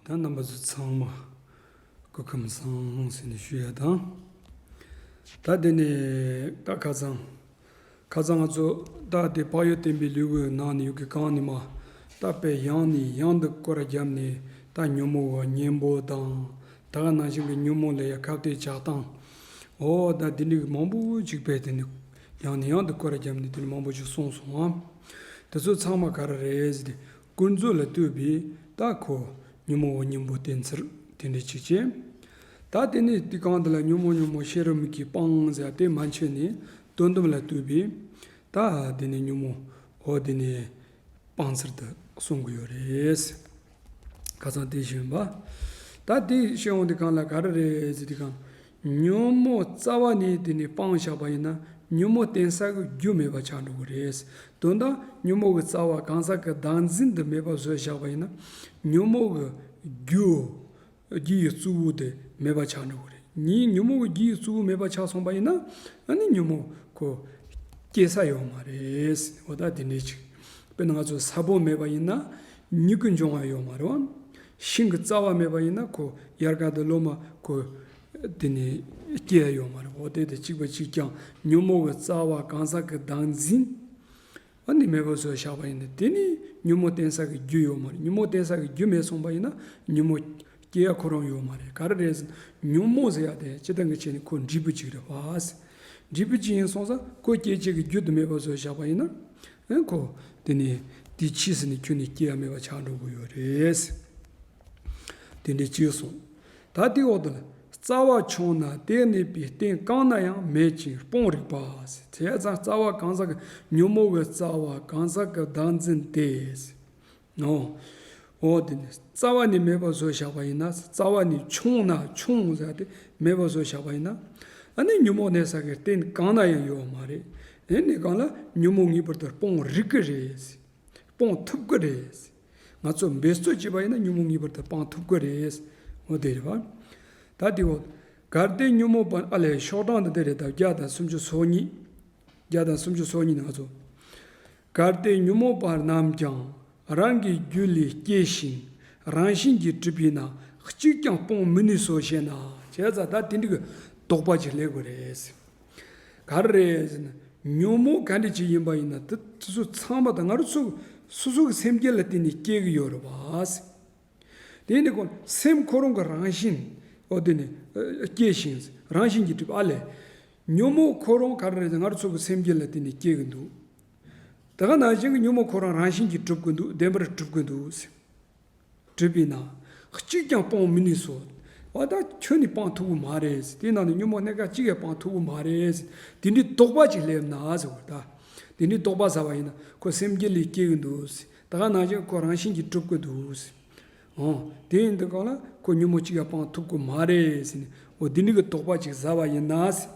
ད་རྣམ་པ་ཚོ་ཚང་མ་སྐུ་ཁམས་བཟང་སྲིད་ནས་བཞུགས་ཡ་དང། ད་འདི་ནས་རྟ་ཁ་ཚང། ཁ་ཚང་ང་ཚོ་རྟ་དེ་དཔག་ཡོད་བསྟན་པའི་ལུས་པོའི་ནང་ནས་ཡུག་གི་གངས་ནི་མ་རྟ་པའི་གཡང་ནས་གཡང་དུ་སྐོར་རྒྱབ་ནས་རྟ་ཉོན་མོ་བ་གཉན་པོ་དང་ད་ག་ནང་བཞིན་གྱི་ཉོན་མོ་ལ་ཡ་ཁབ་ཏེ་ཇག་དང། འོ་ད་འདི་འདྲིག་མང་པོ་ཅིག་པས་དེ་ནས་ཡང་ནས་ཡང་དུ་བཀོད་ར་བརྒྱབ་ནས་དེ་ནས་མང་པོ་ཞིག་གསུངས་སོང་ངམ། དེ་ཚོ་ཚང་མ་ག་ར་རེད། ཀུན་རྫོད་ལ་ལྟོས་པའི་རྟགས་ཁོ། ཉོན་མོངས་བ་གཉེན་པོ་བསྟེན་ཚུལ་དེ་འདྲའི་ཆིག་ཆེ། ད་དེ་ནས་དུས་གང་དུ་ལ་ཉོན་མོངས་ཉོན་མོངས་ཤེས་རབ་མིག་གིས་སྤང་བྱ་དེ་མ་འཆོལ་ནས་དོན་དམ་ལ་ལྟོས་པའི། ད་དེ་ནས་ཉོན་མོངས་འོ་དེ་ནས་སྤང་ཚུལ་དུ་གསུང་གི་ཡོད་རེད། ཁ་སང་དེ་བཞིན་པ། ད་དེ་ཤེས་འོང་དེ་གང་ལ་ག་ར་རེད་དེ་གང། ཉོན་མོངས་རྩ་བ་ནི་དེ་ནི་སྤང་བཞག་པ་ཡིན་ན་ཉོན་མོངས་གཏན་ས་གི་རྒྱུ་མེད་པ་ཆགས་འགྲོ་གི་རེད། དོན་དག་ཉོན་མོངས་ཀྱི་རྩ་བ་གང་ཟག་གི་བདག་འཛིན་དུ་མེད་པ་བཟོས་བཞག་པ་ཡིན་ན་ཉོན་མོངས་ཀྱི་རྒྱུ། རྒྱུ་ཡི་རྩུབ་བུ་དེ་མེད་པ་ཆགས་འགྲོ་གི་རེད། ཉིན་ཉོན་མོངས་ཀྱི་རྒྱུ་ཡི་རྩུབ་བུ་མེད་པ་ཆགས་སོང་པ་ཡིན་ན་ད་ནི་ཉོན་མོངས་ཀྱི་སྐྱེ་ས་ཡོད་མ་རེད། འོ་ད་དེ་འདྲའི་ཕྱིར། དཔེར་ན་ང་ཚོ་ས་བོན་མེད་པ་ཡིན་ན་མྱིག་གི་འབྱུང་བ་ཡོད་མ་རེད། ཤིང་གི་རྩ་བ་མེད་པ་ཡིན་ན་ཁོ་དབྱར་ཁ་དུ་ལོ་མ་གོ། དེ་ནས་སྐྱེས་ཡོང་བ་རེད་འོ་དེ་དེ་གཅིག་པ་གཅིག་ཀྱང་ཉོན་མོངས་པའི་རྩ་བ་གང་ཟག་གི་བདག་འཛིན། ཨ་ནི་མེད་པ་བཟོ་བཞག་པ་ཡིན་ནི་དེ་ནི་ཉོན་མོངས་བསྟེན་ས་གི་རྒྱུ་ཡོད་མ་རེད་ཉོན་མོངས་བསྟེན་ས་གི་རྒྱུ་མེད་སོང་པ་ཡིན་ན་ཉོན་མོངས་སྐྱེ་ཡ་ཁོ་རང་ཡོད་མ་རེད་ག་རེ་རེད་ཟེར་ན་ཉོན་མོངས་ཟེར་ཡ་དེ་སྤྱི་སྟངས་ཀྱི་ཆེད་ནི་ཁོ་འབྲས་བུ་གཅིག་རེད་བ། འབྲས་བུ་གཅིག་ཡིན་སོང་ས་ཁོ་སྐྱེ་བྱེད་ཀྱི་རྒྱུ་དུ་མེད་པ་བཟོ་བཞག་པ་ཡིན་ན། ཨེ་ཁོ། དེ་ནས་དེའི་ཕྱིས་སུ་ནི་ཁྱོད་ནི་སྐྱེ་བ་མེད་པར་ཆགས་འགྲོ་དགོས་ཡོད་རེད། དེ་འདྲའི་སྐྱེས་སོ། ད་དེའི་འོག་ཏུ་ནི་རྩ་བ་ཆུང་ན་དེ་གནས་པའི་རྟེན་གང་ན་ཡང་མེད་ཅིང་སྤོང་རིག་པ། དེས་ཀྱང་རྩ་བ་གང་ཟག་གི་ཉོན་མོངས་པའི་རྩ་བ་གང་ཟག་གི་བདག་འཛིན་ཏེ། ནོ། འོ་དེ་ནི་རྩ་བ་ནས་མེད་པར་བཟོ་བཞག་པ་ཡིན་ན་རྩ་བ་ནས་ཕྱུང་ན་ཕྱུང་ཟེར་ཏེ་མེད་པར་བཟོ་བཞག་པ་ཡིན་ན། ཨ་ནི་ཉོན་མོངས་གནས་ས་གའི་རྟེན་གང་ན་ཡང་ཡོད་བ་མ་རེད། དེ་ནི་གང་ལ་ཉོན་མོངས་ངེས་པར་དུ་སྤོང་རིགས་ཀྱི་རེད། སྤོང་ཐུབ་ཀྱི་རེད། ང་ཚོ་འབད་རྩོལ་བྱེད་པ་ཡིན་ན་ཉོན་མོངས་ངེས་པར་དུ་སྤང་ཐུབ་ཀྱི་རེད། འོ་དེ་རེད་བ། ད་དེ་འོ། གལ་ཏེ་ཉོན་མོངས་སྤངས་ཨ་ལས་ཤོག་གྲངས་དེ་འདི་རེད་དམ་བརྒྱ་དང་སུམ་ཅུ་སོ་གཉིས། བརྒྱ་དང་སུམ་ཅུ་སོ་གཉིས་ནི་ང་ཚོ། གལ་ཏེ་ཉོན་མོངས་པ་རྣམས་ཀྱང་རང་གི་རྒྱུ་ལས་སྐྱེ་ཞིང་རང་བཞིན་གྱིས་གྲུབ་པས་ན་གཅིག་ཀྱང་སྤོང་མི་ནུས་སོ་ཞེ་ན། བྱས་ཙང་ད་དེ་འདྲ་གི་དོགས་པ་ཅིག་སླེབས་གི་རེད། ག་རེ་རེད་ཟེར་ན། ཉོན་མོངས་ག་འདྲ་ཅིག་ཡིན་པ་ཡིན་ན་དེ་ཚོ་ཚང་མ་ད་ང་རོ་སོ་སོ་གི་སེམས་ཅན་ལ་བརྟེན་ནས་སྐྱེ་གི་ཡོད་རེད་བ། དེ་ནི་ཁོ་སེམས་ཁོ་རང་གི་རང་བཞིན། འོ་དེ་ནི། སྐྱེས་ཤིང། རང་བཞིན་གྱིས་གྲུབ་ཨ་ལས། ཉོན་མོངས་ཁོ་རང་ག་རེ་རེད་ང་རོ་ཚོ་གི་སེམས་ཅན་ལ་དེ་ནི་སྐྱེ་གི་འདུག། ད་ག་ནང་བཞིན་གྱི་ཉོན་མོངས་ཁོ་རང་རང་བཞིན་གྱིས་གྲུབ་ཀྱི་འདུག་བདེན་པར་གྲུབ་ཀྱི་འདུག་ཟེར། གྲུབ་པས་ན། གཅིག་ཀྱང་སྤང་མི་ནུས་སོ། བ་ད་ཁྱོད་ནི་སྤང་ཐུབ་ཀྱི་མ་རེད། དེ་ནང་ནས་ཉོན་མོངས་གནས་སྐབས་གཅིག་ཡང་སྤང་ཐུབ་ཀྱི་མ་རེད། དེ་འདྲའི་རྟོག་པ་ཅིག་སླེབས་ན། ད་དེ་འདྲའི་རྟོག་པ་ཟ་བ་ཡིན་ན་ཁོ་སེམས་ཅན་ལས་སྐྱེ་གི་འདུག། ད་ག་ནང་བཞིན་ཁོ་རང་བཞིན་གྱིས་སྒྲུབ་དགོས་འདུག་ཟེར། འོ། དེ་ཡིན་དུས་གང་ལ་ཁོ་ཉོན་མོངས་གཅིག་ཡང་སྤང་ཐུབ་དགོས་མ་རེད་ཟེར་ནས་འོ་དེ་འདྲ་གི་དོགས་པ་ཅིག་ཟ་བ་ཡིན་ན་ཟེར།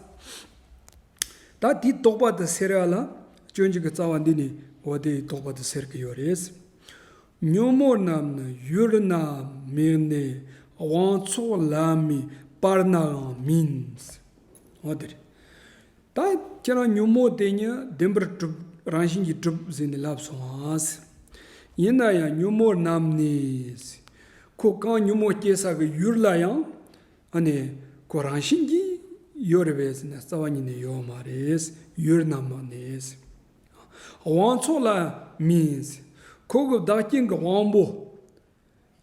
ད་དེའི་དོགས་པ་དུ་སེལ་ར་ལ་སྤྱོད་འཇུག་གི་རྩ་བ་འདི་ནི་འོ་དེ་ཡི་དོགས་པ་དུ་སེལ་གི་ཡོད་རེད་ཟེར། ཉོན་མོངས་རྣམས་ནི་ཡུལ་ན་མིན་ནས་དབང་ཚོགས་ལ་མི་སྤར་ནའང་མིན་ཟེར། འོ་དེ་རེད། ད་ཁྱེད་རང་ཉོན་མོངས་དེ་ཉིད་བདེན་པར་གྲུབ་རང་བཞིན་གྱིས་གྲུབ་ཟེར་ནས་ལབ་སོང་ངམ། ཡིན་ན་ཡང་ཉོན་མོངས་རྣམས་ནི། ཁོ་རྐང་ཉོན་མོངས་སྐྱེ་ས་ཀྱི་ཡུལ་ལ་ཡང། ཨ་ནི། ཁོ་རང་བཞིན་གྱིས་ཡོད་རེད་བས་ཟེར་ནས་རྩ་བ་ཉིད་ནས་ཡོད་མ་རེད། ཡུལ་རྣམས་ནི། དབང་ཚོགས་ལ་མིན། ཁོ་གི་བདག་རྐྱེན་གྱི་དབང་པོ།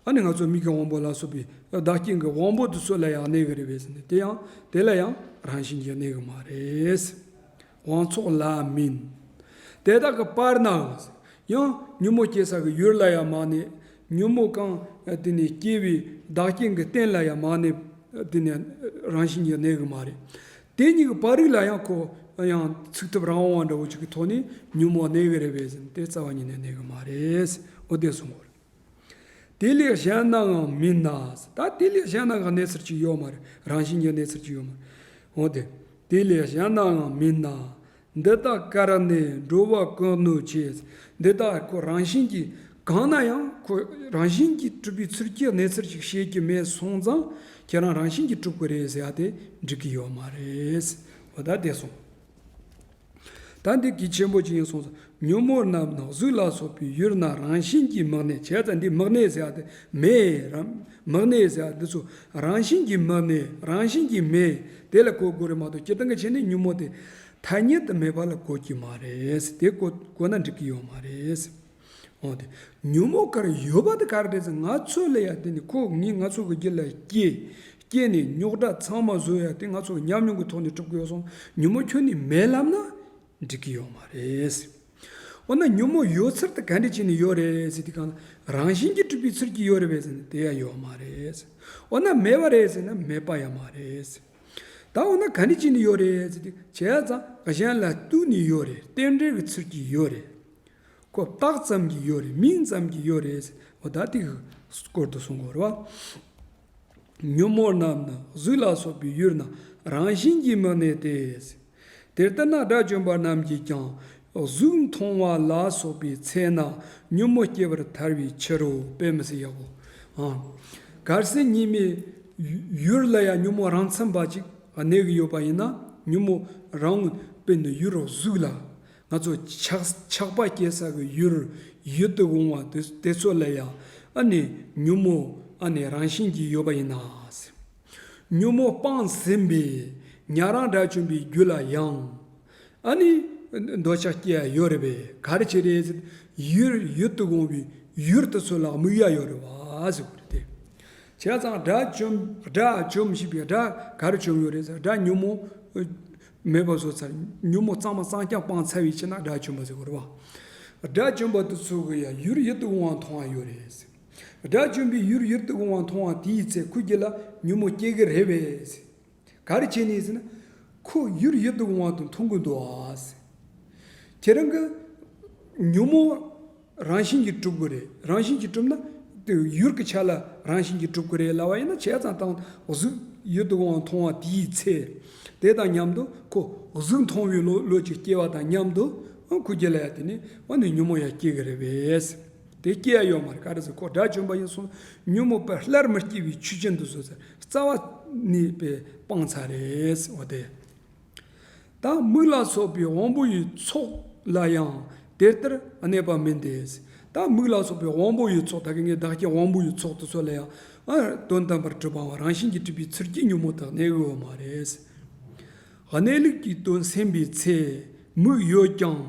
ཨ་ནི་ང་ཚོ་མིག་གི་དབང་པོ་ལ་སོགས་པའི་བདག་རྐྱེན་གྱི་དབང་པོ་དེ་ཚོ་ལ་ཡང་གནས་གི་རེད་བས་ཟེར་ནས་དེ་ཡང་དེ་ལ་ཡང་རང་བཞིན་གྱིས་གནས་གི་མ་རེད། དབང་ཚོགས་ལ་མིན། དེ་དག་གི་བར་ན་ཡང་ཉོན་མོངས་སྐྱེ་ས་གི་ཡུལ་ལ་ཡང་མ་གནས། ཉོན་མོངས་གང་དེ་ནས་སྐྱེ་བའི་བདག་རྐྱེན་གྱི་རྟེན་ལ་ཡང་མ་གནས་དེ་ནས་རང་བཞིན་གྱིས་གནས་གི་མ་རེད། དེ་གཉིས་ཀྱི་བར་རིགས་ལ་ཡང་ཁོ་ཡང་ཚིག་ཐབས་རང་དབང་བ་འདྲ་བོ་ཅིག་གི་ཐོག་ནས་ཉོན་མོངས་གནས་གི་རེད་བས་ཟེར་ནས་དེ་རྩ་བ་ཉིད་ནས་གནས་གི་མ་རེད། འོ་དེ་སོང་ངོ། དེ་ལས་གཞན་སྣང་ངམ་མི་སྣང། ད་དེ་ལས་གཞན་སྣང་གི་གནས་ཚུལ་གཅིག་ཡོད་མ་རེད། རང་བཞིན་གྱི་གནས་ཚུལ་གཅིག་ཡོད་མ་རེད། འོན་ཏེ། དེ་ལས་གཞན་སྣང་ངམ་མི་སྣང། འདི་དག་ཀར་ནས་འགྲོ་བ་ཀུན་ནོད་བྱེད། འདི་དག་ཁོ་རང་བཞིན་གྱིས་གང་ན་ཡང་ཁོ་རང་བཞིན་གྱིས་གྲུབ་པའི་ཚུལ་གྱི་གནས་ཚུལ་ཞིག་ཤེས་ཀྱི་མེད་སོང་ཙང་ཁྱེད་རང་རང་བཞིན་གྱིས་གྲུབ་ཀྱི་རེད་ཟེར་བ་དེ་འགྲིག་གི་ཡོད་མ་རེད། འོ་ད་དེ་སོང། ད་འདི་གི་ཆེན་པོ་ཅི་ཡིན་གསུངས་སོ། ཉོན་མོངས་རྣམས་ནགས་གཟུགས་ལ་སོགས་པའི་ཡུལ་རྣམས་རང་བཞིན་གྱིས་མག་ནས་བྱས་ཙང་འདི་མག་ནས་ཟེར་ཏེ་མེད། མག་ནས་ཟེར་འདི་ཚོ་རང་བཞིན་གྱིས་མག་ནས་རང་བཞིན་གྱིས་མེད་དེ་ལ་གོ་དགོས་རེད་མ་གཏོགས་སྤྱིར་བཏང་གི་ཆེ་ནས་ཉོན་མོངས་དེ་ཐ་སྙད་དུ་མེད་པ་ལ་གོ་གི་མ་རེད་དེ་གོ་ན་འགྲིག་གི་ཡོད་མ་རེད། འོང་སྟེ། ཉོན་མོངས་གར་ཡོད་པ་དེ་གར་འདྲེས་ཚེ་ང་ཚོ་ལ་ཡང་དེ་ནི་ཁོ་ངི་ང་ཚོ་གི་རྒྱུད་ལ་སྐྱེས། སྐྱེས་ནས་རྙོག་དྲ་ཚང་མ་བཟོས་ཡང་དེ་ང་ཚོ་ཉམས་མྱོང་གི་ཐོག་ནས་གྲུབ་ཀི་ཡོད་སོང་ཉོན་མོངས་ཁྱོན་ནས་མེད་ལབ་ན་འགྲིག་གི་ཡོད་མ་རེད། འོ་ན་ཉོན་མོངས་ཡོད་ཚུལ་དེ་ག་འདྲས་བྱས་ནས་ཡོད་རེད་ཟེར་དུས་གང་ལ་རང་བཞིན་གྱིས་གྲུབ་པའི་ཚུལ་གྱིས་ཡོད་རེད་བས་ཟེར་ན་དེ་ཡང་ཡོད་མ་རེད། འོ་ན་མེད་པ་རེད་ཟེར་ན་མེད་པ་ཡང་མ་རེད། ད་འོ་ན་ག་འདྲས་བྱས་ནས་ཡོད་རེད་ཟེར་དུས་བྱས་ཙང་གཞན་ལ་ལྟོས་ནས་ཡོད་རེད་རྟེན་འབྲེལ་གྱི་ཚུལ་གྱིས་ཡོད་རེད། ཁོ་རྟགས་ཙམ་གྱིས་ཡོད་རེད་མིང་ཙམ་གྱིས་ཡོད་རེད་ཟེར་བ་ད་ཐིག་སྐོར་དུ་སོང་གོ། ཉོན་མོངས་རྣམས་ནི་གཟུགས་ལ་སོགས་པའི་ཡུལ་རྣམས་རང་བཞིན་གྱིས་མི་གནས་ཏེ། དེ་ལྟར་ན་དགྲ་བཅོམ་པ་རྣམས་ཀྱིས་ཀྱང་གཟུགས་མཐོང་བ་ལ་སོགས་པའི་ཚེ་ན་ཉོན་མོངས་སྐྱེ་བར་ཐལ་བའི་ཕྱིར་རོ། དཔེ་མི་སྲིད་ཡག་གོ། གལ་སྲིད་གཉིས་མེད་ཡུལ་ལ་ཡང་ཉོན་མོངས་རང་མཚན་པ་ཅིག་གནས་ཀྱི་ཡོད་པ་ཡིན་ན་ཉོན་མོངས་རང་དཔེ་ནི་ཡུལ་རོ་གཟུགས་ལ་ང་ཚོ་ཆགས་པ་སྐྱེ་ས་གི་ཡུལ་ཡུལ་དུ་འོང་བ་དེ་ཚོ་ལ་ཡང་ཨ་ནི་ཉོན་མོངས་ཨ་ནི་རང་བཞིན་གྱིས་ཡོད་པ་ཡིན་ན། ཉོན་མོངས་སྤངས་ཟིན་པས་ཉྭ་རང་སྒྲ་བྱུང་བའི་རྒྱུ་ལ་ཡང་ཨ་ནི་འདོད་ཆགས་སྐྱེ་ཡ་ཡོད་རེད་པས་ག་རེ་བྱེད་རེད། ཡུལ་ཡུལ་དུ་འོང་བའི་ཡུལ་དེ་ཚོ་ལ་དམིགས་ཡ་ཡོད་རེད་བ་ཟེར་བ་རེད། བྱས་ཙང་སྒྲ་བྱུང་སྒྲ་བྱུང་ཞེས་པའི་སྒྲ་ག་རེ་བྱུང་ཡོད་རེད་ཟེར་སྒྲ་ཉོན་མོངས་མེད་པ་བཟོ་ཚར། ཉོན་མོངས་གཙང་མ་གཙང་རྐྱང་སྤངས་ཚར་བའི་ཕྱིར་ན་དགྲ་བཅོམ་པ་ཟེར་རོ། དགྲ་བཅོམ་པ་དེ་ཚོ་གི་ཡང་ཡུལ་ཡིད་དུ་འོང་བ་མཐོང་བ་ཡོད་རེད། དགྲ་བཅོམ་པའི་ཡུལ་ཡིད་དུ་འོང་བ་མཐོང་བ་དེའི་ཚེ་ཁོ་རྒྱུད་ལ་ཉོན་མོངས་སྐྱེ་གི་རེད་བས། ག་རེ་བྱས་ནས་ཟེར་ན། ཁོ་ཡུལ་ཡིད་དུ་འོང་བ་དང་མཐུན་གི་འདུག། ཁྱེད་རང་གི། ཉོན་མོངས། རང་བཞིན་གྱིས་གྲུབ་དགོས་རེད་རང་བཞིན་གྱིས་གྲུབ་ན། ཡུལ་གྱི་ཆ་ལ་རང་བཞིན་གྱིས་གྲུབ་དགོས་རེད་ལབ་པ་ཡིན་ན་བྱས་ཙང་དང་གཟུགས་ཡོད་དུའང་མཐོང་བ་དེའི་ཚེ། དེ་དང་མཉམ་དུ་ཁོ་གཟུགས་མཐོང་བའི་བློ་ལུས་ཀྱི་སྐྱེ་བ་དང་མཉམ་དུ། ཁུ་སྐྱེ་ལ་ཡང་དེ་ནས་འོ་ནི་ཉོན་མོངས་ཡང་སྐྱེ་གི་རེད་བས། དེ་སྐྱེ་ཡ་ཡོད་མ་རེད་ག་རེ་ཟེར་ཁོ་དགྲ་བཅོམ་པ་ཡིན་སོང་ཉོན་མོངས་པས་སླར་མི་སྐྱེ་བའི་ཆོས་ཅན་དུ་བཟོས་ཟེར་རྩ་བ་ནས་པའི་སྤང་ཚ་རེད་འོ་དེ། དང་མིག་ལ་སོགས་པའི་དབང་པོ་ཡི་ཚོགས་ལ་ཡང་དེ་ལྟར་གནས་པ་མིན་ཏེ། དང་མིག་ལ་སོགས་པའི་དབང་པོ་ཡི་ཚོགས་དག་གིས་བདག་གི་དབང་པོ་ཡི་ཚོགས་དུ་ཚོད་ལ་ཡང། དོན་དམ་པར་སྤྲོས་པའང་རང་བཞིན་གྱིས་སྤྲུལ་པའི་ཚུལ་གྱིས་ཉོན་མོངས་དག་གནས་དགོས་པ་མ་རེད། གནས་ལུགས་ཀྱི་དོན་སེམས་པའི་ཚེ་མིག་ཡོད་ཀྱང།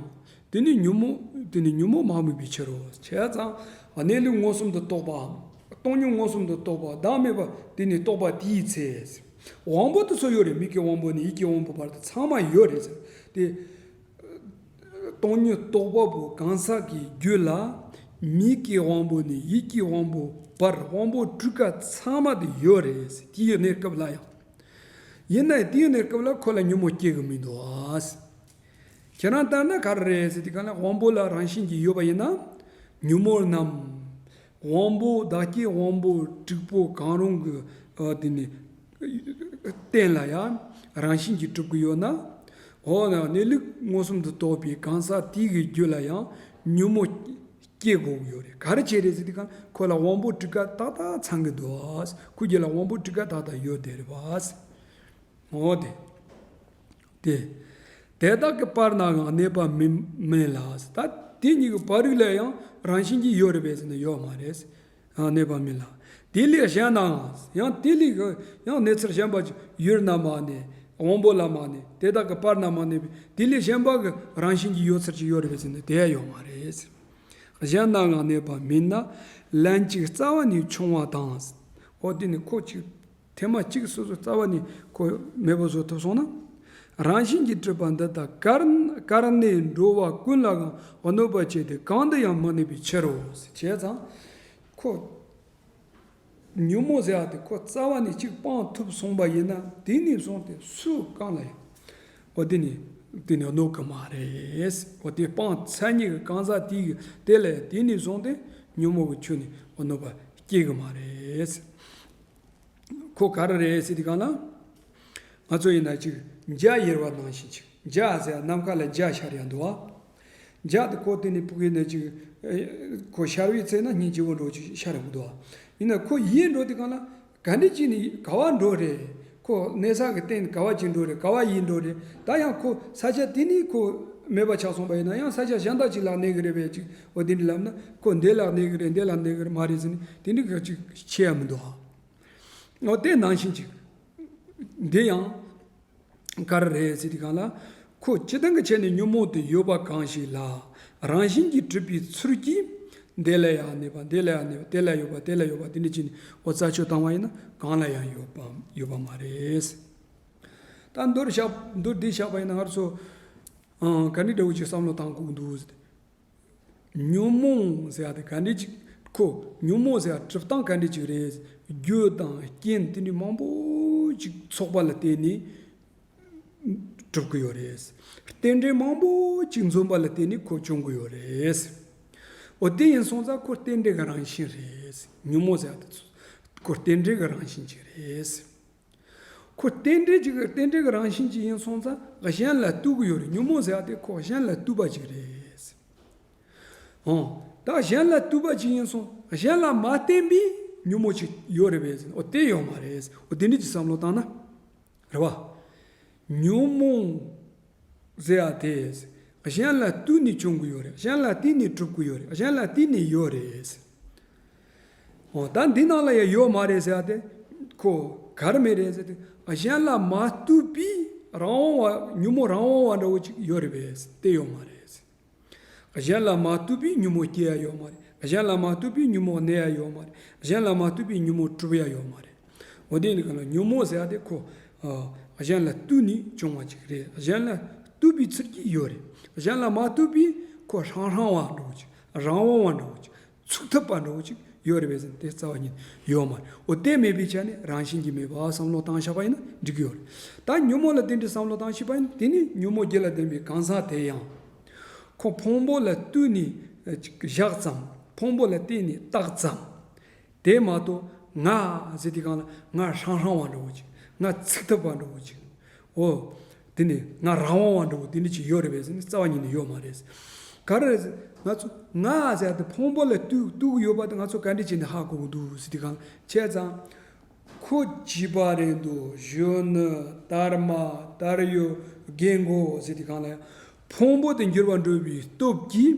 དེ་ནི་ཉོན་མོངས་མ་དམིགས་པའི་ཕྱིར་རོ། བྱས་ཙང་གནས་ལུགས་མངོན་སུམ་དུ་རྟོགས་པའམ། སྟོང་ཉིད་མངོན་སུམ་དུ་རྟོགས་པ་བདག་མེད་པ་དེ་ནི་རྟོགས་པ་དེའི་ཚེ། དབང་པོ་དེ་ཚོ་ཡོད་རེད་མིག་གི་དབང་པོ་ནས་ཡིད་ཀྱི་དབང་པོ་བར་དུ་ཚང་མ་ཡོད་རེད་ཟེར། དེ། སྟོང་ཉིད་རྟོགས་པ་པོ་གང་ཟག་གི་རྒྱུད་ལ། མིག་གི་དབང་པོ་ནས་ཡིད་ཀྱི་དབང་པོ་བར་དབང་པོ་སྤྲུལ་སྐར་ཚང་མ་དེ་ཡོད་རེད་ཟེར་ཏི་ཡོད་ནའི་སྐབས་ལ་ཡང། ཡིན་ནའི་ཏི་ཡོད་ནའི་སྐབས་ལ་ཁོ་ལ་ཉོན་མོངས་སྐྱེ་གི་མི་འདུག་ཟེར། ཁྱེད་རང་ལྟར་ན་ག་རེ་རེད་ཟེར་ཏེ་གང་ལ་དབང་པོ་ལ་རང་བཞིན་གྱིས་ཡོད་པ་ཡིན་ན། ཉོན་མོངས་རྣམས། དབང་པོ་བདག་བསྐྱེད་དབང་པོ་དྲུག་པོ་གང་རུང་གི་དེ་ནི། རྟེན་ལ་ཡང་རང་བཞིན་གྱིས་གྲུབ་ཀྱི་ཡོད་ན། འོ་ན་གནས་ལུགས་མངོན་སུམ་དུ་རྟོགས་པའི་གང་ཟག་དེ་གའི་རྒྱུད་ལ་ཡང་ཉོན་མོངས་སྐྱེ་དགོས་ཀྱི་ཡོད་རེད་ག་རེ་བྱས་རེད་ཟེར་དུས་ཀྱང་ཁོ་ལ་དབང་པོ་དྲུག་ཀ་ཏག་ཏག་ཚང་གི་འདུག་ཁོའི་རྒྱུད་ལ་དབང་པོ་དྲུག་ཀ་ཏག་ཏག་ཡོད་དེ་རེད། འོ་དེ། སྟེ། དེ་དག་གི་བར་ནའང་གནས་པ་མེད་ལ། ད་དེ་གཉིས་ཀྱི་བར་རིགས་ལ་ཡང་རང་བཞིན་གྱིས་ཡོད་རེད་པས་ཟེར་ན་ཡོད་མ་རེད། གནས་པ་མིན་ལ། དེ་ལས་གཞན་ནའང་ཡང་དེ་ལས་ཡང་གནས་ཚུལ་གཞན་པ་ཡུལ་ན་མ་གནས་དབང་པོ་ལ་མ་གནས་དེ་དག་གི་བར་ན་མ་གནས་པས་དེ་ལས་གཞན་པ་གི་རང་བཞིན་གྱིས་ཡོད་ཚུལ་གྱིས་ཡོད་རེད་པས་ཟེར་ན་དེའང་ཡོད་མ་རེད། གཞན་ནའང་གནས་པ་མིན་ན། ལན་ཅིག་རྩ་བ་ནས་ཕྱུང་བ་དང། འོ་དེ་ནི་ཁོ་ཅིག་ཐེངས་མ་གཅིག་སོ་སོའི་རྩ་བ་ནས་ཁོ་མེས་པོ་བཟོ་ཐུབ་སོང་ན། རང་བཞིན་གྱིས་སྤྲུལ་པ་འདི་དག་ཀར་ནས་འགྲོ་བ་ཀུན་ལའང་གནོད་པ་བྱས་ཏེ་གང་དུ་ཡང་མ་གནས་པའི་ཕྱིར་རོ། བྱས་ཙང་ཁོ་ཉོན་མོངས་ཟེར་བ་དེ་ཁོ་རྩ་བ་ནས་གཅིག་སྤངས་ཐུབ་སོང་བ་ཡིན་ན་དེ་ནས་བཟུང་སྟེ་སུ་གང་ལ་ཡང་བ་དེ་ནི་དེ་ནི་གནོད་གི་མ་རེད། བ་དེ་སྤངས་ཚད་ཉིད་ཀྱི་གང་ཟག་དེའི་དེ་ལས་དེ་ནས་བཟུང་སྟེ་ཉོན་མོངས་ཀྱི་ཆོས་ནི་བ་གནོད་པ་སྐྱེ་གི་མ་རེད། ཁོ་ག་རེ་རེད་སྲིད་གང་ན། ང་ཚོ་ཡིན་ན་ཅིག་འཇའ་ཡེར་བ་ནང་བཞིན་ཅིག་འཇའ་ཟེར་ཡང་ནམ་མཁའ་ལ་འཇའ་ཤར་ཡང་འདུག་ཨ། འཇའ་དང་ཁོ་བསྟུན་ནས་སྤུ་གས་ནས་ཅིག། ཁོ་ཤར་བའི་ཚེ་ན་སྙིང་རྗེ་བོ་འགྲོ་ཅིག་ཤར་ཡང་འདུག་ཨ། ཡིན་ན་ཁོ་ཡིད་འགྲོ་དེ་གང་ན། ག་འདྲེ་གཅིག་ནི་ག་བ་འགྲོ་རེད། ཁོ་གནས་ས་གི་སྟེང་ནི་ག་བ་གཅིག་འགྲོ་རེད་ག་བ་ཡིད་འགྲོ་རེད། ད་ཡང་ཁོ་ས་ཆ་དེ་ནི་ཁོ་མེད་པ་ཆགས་སོང་བ་ཡིན་ན་ཡང་ས་ཆ་གཞན་དག་ཅིག་ལ་གནས་གི་རེད་པས་ཅིག་ཨོ་དེ་འདྲའི་ལབ་ན་ཁོ་འདས་ལགས་འདས་གི་རེད་འདས་ལགས་འདས་གི་རེད་མ་རེད་ཟེར་ནས་དེ་འདྲའི་ག་ཅིག་བྱེད་ཡ་མི་འདུག་ཨ། ཨོ་ལྟས་ནང་བཞིན་གྱི། འདི་ཡང། ག་རེ་རེད་ཟེར་དུས་གང་ལ། ཁོ་སྤྱི་སྟངས་ཀྱི་ཆ་ནས་ཉོན་མོངས་དུ་ཡོད་པ་གང་ཞིག་ལ། རང་བཞིན་གྱིས་གྲུབ་པའི་ཚུལ་གྱིས། འདས་ལ་ཡང་འདས་པ་འདས་ལ་ཡང་འདས་པ་དེ་ལ་ཡོད་པ་དེ་ལ་ཡོད་པ་དེ་འདྲ་བྱས་ནས་ཨོ་རྩ་ཆོད་བཏང་བ་ཡིན་ན་གང་ལ་ཡང་ཡོད་པ་ཡོད་པ་མ་རེད། ད་མདོར་བཞག་མདོར་བསྡུས་བཞག་པ་ཡིན་ན་སྔར་སོ། ག་འདྲའི་འདྲ་བོ་ཅིག་བསམ་བློ་བཏང་ཁུག་འདུག། ཉོན་མོངས་ཟེར་བ་དེ་ག་འདྲས་ཅིག་གོ། ཉོན་མོངས་ཟེར་བ་གྲུབ་སྟངས་ག་འདྲས་ཅིག་རེད། རྒྱུད་དང་རྐྱེན་ཏིང་འབྲི་མང་པོ་ཅིག་ཚོགས་པ་ལ་བརྟེན་ནས་གྲུབ་ཀྱི་ཡོད་རེད། རྟེན་འབྲེལ་མང་པོ་ཅིག་འཛོམས་པ་ལ་བརྟེན་ནས་ཁོ་བྱུང་གི་ཡོད་རེད། འོ་དེ་ཡིན་སོང་ཙང་ཁོ་རྟེན་འབྲེལ་གྱི་རང་བཞིན་རེད། ཉོན་མོངས་ཟེར་བ་དེ་ཁོ་རྟེན་འབྲེལ་གྱི་རང་བཞིན་ཅིག་རེད། ཁོ་རྟེན་འབྲེལ་གྱི་རྟེན་འབྲེལ་གྱི་རང་བཞིན་གྱི་ཡིན་སོང་ཙང་གཞན་ལ་གཏུག་གི་ཡོད་རེད་ཉོན་མོངས་ཟེར་བ་དེ་ཁོ་གཞན་ལ་གཏུག་པ་ཅིག་རེད། ཨོ། ད་གཞན་ལ་གཏུག་པ་ཅིག་ཡིན་སོང་གཞན་ལ་མ་བརྟེན་པའི་ཉོན་མོངས་ཅིག་ཡོད་རེད་བས་ཨོ་དེ་ཡོད་མ་རེད། ཨོ་དེ་འདྲིས་ཀྱི་བསམ་བློ་བཏང་ན་རེད་བ། ཉོན་མོངས་ཟེར་བ་དེ་གཞན་ལ་གཏུག་ནས་བྱུང་གི་ཡོད་རེད་གཞན་ལ་བརྟེན་ནས་གྲུབ་ཀྱི་ཡོད་རེད་གཞན་ལ་བརྟེན་ནས་ཡོད་རེད། ད་འདི་ནང་ལ་ཡང་ཡོད་མ་རེད་ཟེར་ཏེ། ཁོ་གར་མེད་རེད་ཟེར་ཏེ་གཞན་ལ་མ་ལྟོས་པའི་རང་དབང་བ་ཉུང་མོ་རང་དབང་བ་འདྲ་བོ་ཅིག་ཡོད་རེད་པས་དེ་ཡོད་མ་རེད། གཞན་ལ་མ་ལྟོས་པའི་ཉུང་མོ་སྐྱེ་ཡ་ཡོད་མ་རེད། གཞན་ལ་མ་ལྟོས་པའི་ཉུང་མོ་གནས་ཡ་ཡོད་མ་རེད། གཞན་ལ་མ་ལྟོས་པའི་ཉུང་མོ་གྲུབ་ཡ་ཡོད་མ་རེད། འོ་དེ་ནི་གང་ལ་ཉུང་མོ་ཟེར་ཏེ་ཁོ་གཞན་ལ་ལྟོས་ནས་བྱུང་བ་ཅིག་རེད་གཞན་ལ་ལྟོས་པའི་ཚུལ་གྱིས་ཡོད་རེད། གཞན་ལ་མ་ལྟོས་པའི་ཁོ་ཧྲང་ཧྲང་བ་འདྲ་བོ་ཅིག་རང་དབང་བ་འདྲ་བོ་ཅིག་ཚུགས་ཐབས་པ་འདྲ་བོ་ཅིག་ཡོད་རེད་བས་ཟིན་དེ་རྩ་བ་ཉིད་ཡོད་མ་རེད་འོ་དེ་མེད་པའི་ཆ་ནས་རང་བཞིན་གྱིས་མེད་པ་བསམ་བློ་བཏང་ཤག་པ་ཡིན་ན་འགྲིག་གི་ཡོད་རེད་ད་ཉོན་མོངས་ལ་བརྟེན་ཏེ་བསམ་བློ་བཏང་ཤིག་པ་ཡིན་དེ་ནི་ཉོན་མོངས་བརྒྱད་ལ་བརྟེན་པའི་གང་ཟག་དེ་ཡང་ཁོ་ཕུང་པོ་ལ་བསྟུན་ནས་བཞག་ཙམ་ཕུང་པོ་ལ་བརྟེན་ནས་བཏགས་ཙམ་དེ་མ་གཏོགས་ང་ཟེར་དེ་གང་ལ་ང་ཧྲང་ཧྲང་བ་འདྲ་བོ་ཅིག་ང་ཚིག་ཐབས་པ་འདྲ་བོ་ཅིག་ཨོ། དེ་ནི་ང་རང་འོང་བ་འདྲ་བོ་དེ་ནི་ཅི་ཡོད་རེད་བས་ཟེར་ནས་རྩ་བ་ཉིད་ནས་ཡོད་མ་རེད། ག་རེ་རེད། ང་ཚོ་ང་ཟེར་དེ་ཕུང་པོ་ལ་གཏུགས་ཡོད་པ་དེ་ང་ཚོ་ག་འདྲས་བྱས་ནས་ཧ་གོ་གི་འདུག་ཟེར་དེ་གང་བྱས་ཙང། ཁོ་བགྱིས་པ་རེད་འདུག་གཞོན་ནུ་དར་མ་དར་ཡོད་རྒན་མགོ་ཟེར་དེ་གང་ལ་ཡང་ཕུང་པོ་དེ་འགྱུར་བ་འགྲོ་བའི་སྟོབས་ཀྱིས་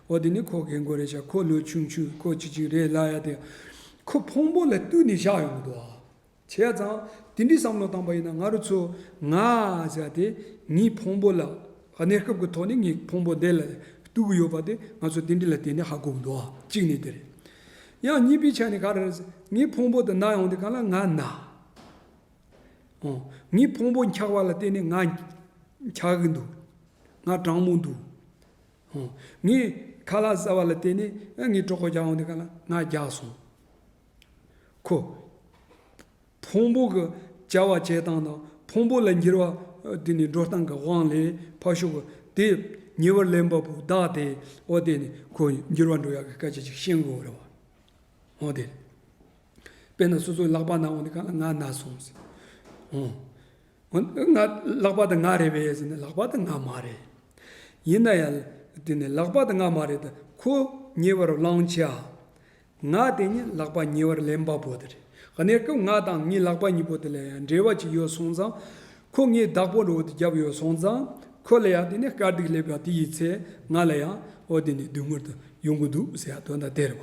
འོ་དེ་ནི་ཁོ་རྒན་མགོ་རེད་ཤག་ཁོ་ལོས་ཆུང་ཆུས་ཁོ་ཅིག་ཅིག་རེད་ལ་ཡ་དེ་ཁོ་ཕུང་པོ་ལ་བཏུས་ནས་བཞག་ཡོང་གི་འདུག་ཨ། བྱས་ཡ་ཙང་དེ་འདྲའི་བསམ་བློ་བཏང་པ་ཡིན་ན་ང་རུ་ཚོ་ང་ཟེར་ཡ་དེ་ངའི་ཕུང་པོ་ལ་གནས་སྐབས་ཀྱི་ཐོག་ནས་ངའི་ཕུང་པོ་འདི་ལ་བཏུས་གི་ཡོད་པ་དེ་ང་ཚོ་དེ་འདྲའི་ལ་དེ་ནས་ཧ་གོ་གི་འདུག་ཨ་གཅིག་ནས་དེ་རེད། ཡང་གཉིས་པའི་ཆ་ནས་ག་རེ་རེད་ཟེར་ངའི་ཕུང་པོ་དེ་ན་ཡོང་དེ་ག་ལ་ང་ན་ཨོ་ངའི་ཕུང་པོ་འཁྱག་པ་ལ་བརྟེན་ནས་ང་འཁྱག་གི་འདུག་ང་གྲང་མོ་འདུག་ཧོ། ངས་ཁ་ལག་ཟ་བ་ལ་བལྟས་ནས་ཨ་ངའི་གྲོགས་པོ་རྒྱག་འོང་དེ་ག་ལ་ང་རྒྱག་སོང། ཁོ། ཕུང་པོ་གི་བྱ་བ་བྱེད་སྟངས་དང་ཕུང་པོ་ལ་འགྱུར་བ་དེ་ནི་འགྲོ་སྟངས་ཀྱི་དབང་ལས་ཕར་ཞོག་གི་དེ་ཉེ་བར་ལེན་པ་པོ་བདག་དེ་འོ་བལྟས་ནས་ཁོ་འགྱུར་བ་འགྲོ་ཡག་གི་སྐད་ཆ་ཅིག་བཤད་དགོས་རེད་བ། ཧོ་བལྟས། དཔེར་ན་སོ་སོའི་ལག་པ་ན་འོང་དེ་ག་ལ་ང་ན་སོང། ཧོ། ང་ལག་པ་དང་ང་རེད་བས་ཟེར་ནས་ལག་པ་དང་ང་མ་རེད། ཡིན་ན་ཡང་དེ་ནི་ལག་པ་དང་ང་མ་རེད་དེ་ཁོ་ཉེ་བར་བླང་བྱ། ང་དེ་ཉིད་ལག་པ་ཉེ་བར་ལེན་པ་པོ་དེ་རེད། གནས་སྐབས་ང་དང་ངའི་ལག་པ་གཉིས་པོ་དེ་ལ་ཡང་འབྲེལ་བ་ཅིག་ཡོད་སོང་ཙང། ཁོ་ངའི་བདག་པོ་འོ་དེ་བརྒྱབ་ཡོད་སོང་ཙང། ཁོ་ལ་ཡང་དེ་ནི་དཀའ་སྡུག་སླེབས་པ་དེ་ཡི་ཚེ་ང་ལ་ཡང་འོ་དེ་ནི་སྡུག་མྱུར་དུ་ཡོང་གི་འདུག་ཟེར་ཡ་དོན་དང་དེ་རེད་བ།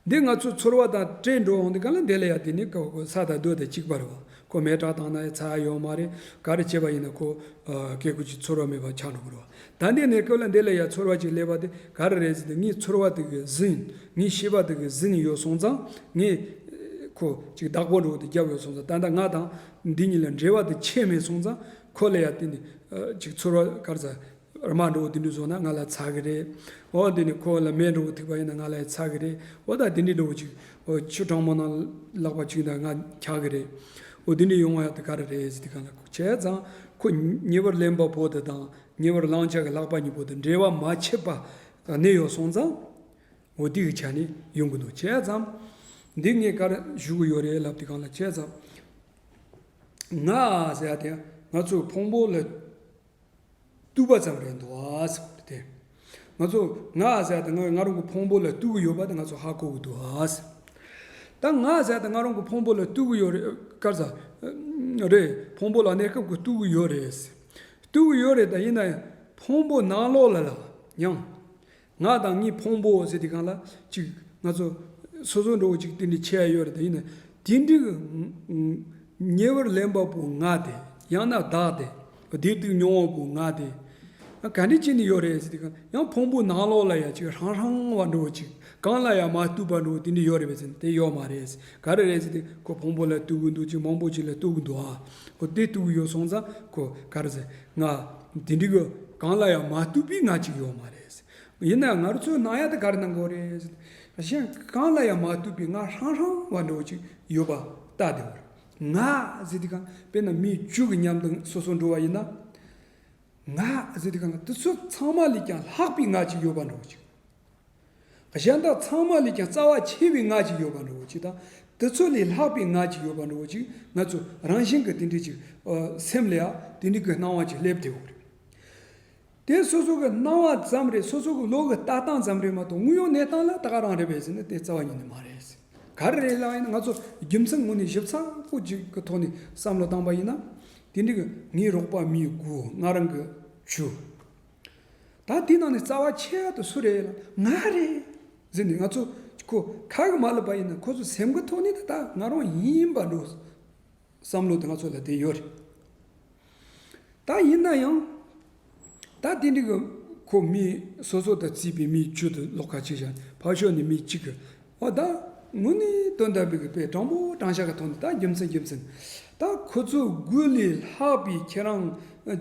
འདི་ང་ཚོའི་ཚོར་བ་དང་བྲལ་འགྲོ་འོང་འདི་ག་ལ་འདས་ལ་ཡ་དེ་ནི་ས་དང་རྡོ་དང་གཅིག་པ་རེད་བ། ཁོ་མེད་དྲག་བཏང་ན་ཡ་ཚ་ཡོང་མ་རེད་ག་རེ་བྱས་པ་ཡིན་ན་ཁོ་སྐད་ཁུར་གྱི་ཚོར་བ་མེད་པ་ཆགས་འགྲོ་གི་རེད་བ། ད་འདི་གནས་སྐབས་ལ་འདས་ལ་ཡ་ཚོར་བ་ཅིག་སླེབས་པ་དེ་ག་རེ་རེད་ཟེར་ཏེ་ངའི་ཚོར་བ་དེ་གི་ཟིན་ངའི་ཤེས་པ་དེ་གི་ཟིན་ཡོད་སོང་ཙང་ངས་ཁོ་ཅིག་བདག་པོ་འགྲོ་དེ་རྒྱབ་ཡོད་སོང་ཙང་ད་ལྟ་ང་དང་འདི་གཉིས་ལ་འབྲེལ་བ་དེ་ཆད་མེད་སོང་ཙང་ཁོ་ལ་ཡ་དེ་ནི་ཅིག་ཚོར་བ་ག་རེ་ཟ་ར་མ་འགྲོ་བོ་དེ་འདྲུ་བཟོ་ན་ང་ལ་ཚ་གི་རེད་འོ་དེ་ནས་ཁོ་ལ་མས་འགྲོ་བོ་ཐུག་པ་ཡིན་ན་ང་ལ་ཡང་ཚ་གི་རེད་འོ་ད་དེ་འདྲི་འགྲོ་བོ་ཅིག་འོ་ཆུ་གྲང་མོ་ན་ལག་པ་ཆུས་འདར་ང་འཁྱག་གི་རེད་འོ་དེ་འདྲི་ཡོང་ང་ཡག་དེ་ག་རེ་རེད་ཟེར་དེ་ག་ལ་ཁོ་བྱས་ཙང་ཁོ་ཉེ་བར་ལེན་པ་པོ་དེ་དང་ཉེ་བར་བླང་བྱ་གི་ལག་པ་གཉིས་པོ་དེ་འབྲེལ་བ་མ་ཆད་པ་གནས་ཡོག་སོང་ཙང་འོ་དེ་གི་ཆ་ནས་ཡོང་གི་འདུག་བྱས་ཙང་འདི་ངས་ག་རེ་ཞུ་གི་ཡོག་རེད་ལབ་དེ་ག་ལ་བྱས་ཙང་ང་ཟེར་ཡག་དེ་ང་ཚོས་ཕུང་པོ་ལ་བཏུས་པ་ཙམ་རེད་འདུག་ཨ་ཟེར་བ་དེ། ང་ཚོ་ང་ཨ་ཟེར་དང་ང་ང་རང་གི་ཕུང་པོ་ལ་བཏུས་གི་ཡོད་པ་དེ་ང་ཚོ་ཧ་གོ་གི་འདུག་ཨ་ཟེར། ད་ང་ཨ་ཟེར་དང་ང་རང་གི་ཕུང་པོ་ལ་བཏུས་གི་ཡོད་རེད་དཀར་ཟ། རེད་ཕུང་པོ་ལ་གནས་སྐབས་ཀྱི་བཏུས་གི་ཡོད་རེད། བཏུས་གི་ཡོད་རེད་ད་ཡིན་ན་ཡང་ཕུང་པོ་ནང་ལོགས་ལ་ལ་ཡང། ངག་དང་གཉིས་ཕུང་པོ་ཟེར་དེ་གང་ལ་གཅིག་ང་ཚོ་སོ་སོ་འགྲོ་བ་གཅིག་དེ་འདྲའི་ཆེ་ཡ་ཡོད་རེད་དེ་ཡིན་ན་དེ་འདྲའི་ཉེ་བར་ལེན་པ་པོའི་ངག་དེ་ཡང་ན་བདག་དེ་བདེ་སྡུག་མྱོང་བ་པོའི་ངག་དེ་ག་འདྲའི་ཆེ་ནས་ཡོད་རེད་ཟེར་དེ་གང་ཡང་ཕུང་པོ་ནང་ལོགས་ལ་ཡང་གཅིག་རང་རང་བ་འགྲོ་བ་གཅིག་གང་ལ་ཡང་མ་གཏུགས་པ་འགྲོ་བ་དེ་འདྲའི་ཡོད་རེད་བས་ཟེར་དེ་ཡོད་མ་རེད་ཟེར་ག་རེ་རེད་ཟེར་དེ་ཁོ་ཕུང་པོ་ལ་གཏུགས་གི་འདུག་ཅིག་མང་པོ་ཅིག་ལ་གཏུགས་གི་འདུག་ཨ་ཁོ་དེ་གཏུགས་གི་ཡོད་སོང་ཙང་ཁོ་ག་རེ་ཟེར་ང། དེ་འགྲིག་གི། གང་ལ་ཡང་མ་གཏུགས་པའི་ང་གཅིག་ཡོད་མ་རེད། ཡིན་ནའང་ང་རོ་ཚོའི་ནང་ཡ་དེ་ག་རེ་གནང་དགོས་རེད། གཞན་གང་ལ་ཡང་མ་གཏུགས་པའི་ང་ཧྲང་ཧྲང་བ་འདྲ་བོ་གཅིག་ཡོད་པ་ལྟ་དེ་བར། ང་ཟེར་དུས་གང་དཔེར་ན་མི་བཅུ་གི་མཉམ་དུ་སོ་སོར་འགྲོ་བ་ཡིན་ན། ང་ཟེར་དུས་གང་ལ་དུས་ཚོད་ཚང་མ་ལས་ཀྱང་ལྷག་པའི་ང་གཅིག་ཡོད་པ་འདྲ་བོ་གཅིག། གཞན་དག་ཚང་མ་ལས་ཀྱང་རྩ་བ་ཆེ་བའི་ངག་ཅིག་ཡོད་པར་འགྲོ་བ་ཅིག་དང། དེ་ཚོ་ལས་ལྷག་པའི་ངག་ཅིག་ཡོད་པར་འགྲོ་བ་ཅིག་ང་ཚོ་རང་བཞིན་གྱི་དེ་འདྲའི་ཅིག་སེམས་ལས་དེ་འདྲའི་གི་སྣང་བ་ཅིག་སླེབས་བསྡད་ཡོད་རེད། དེ་སོ་སོ་གི་སྣང་བ་ཙམ་རེད་སོ་སོ་གི་བློ་གི་ལྟ་སྟངས་ཙམ་རེད་མ་གཏོགས་དངོས་ཡོད་གནས་སྟངས་ལ་ད་ག་རང་རེད་བས་ཟེར་ན་དེ་རྩ་བ་ཉིད་ནས་མ་རེད། ག་རེ་རེད་ལབ་ཡིན་ན་ང་ཚོ་རྒྱུ་མཚན་ངོ་ནས་ཞིབ་ཚགས་པོ་ཅིག་གི་ཐོག་ནས་བསམ་བློ་བཏང་པ་ཡིན་ན། དེ་འདྲའི་གི་ངའི་རོགས་པ་མིའི་དགུ་ང་རང་གི་ཆུ། ད་དེའི་ནང་ནས་རྩ་བ་ཆེ་ཧ་དུ་སུ་རེད་ལ་ང་རེད། ཟེར་ནས་ང་ཚོ་ཁོ་ག་གི་མ་ལུས་པ་ཡིན་ན་ཁོ་ཚོ་སེམས་ཁུར་ཐོག་ནས་ད་ད་ང་རང་ཡིན་པ་འགྲོ་བསམ་བློ་དེ་ང་ཚོ་ལ་དེ་ཡོད་རེད། ད་ཡིན་ན་ཡང་ད་དེ་འདྲའི་གི་ཁོ་མི་སོ་སོ་དང་རྩིས་པའི་མིའི་ཇུས་ཏུ་ལོག་ཁ་ཆེ་བཞག་ཕར་ཞོག་ནས་མི་གཅིག་གི་ཨོ་ད། ངུ་ནི་དོན་དམ་པའི་པའི་སྤྲང་པོ་སྤྲང་ཤ་ག་ཐོག་འདི་ད་རྒྱུ་མཚན་རྒྱུ་མཚན། ད་ཁོ་ཚོའི་དགུ་ལས་ལྷག་པའི་ཁྱེད་རང་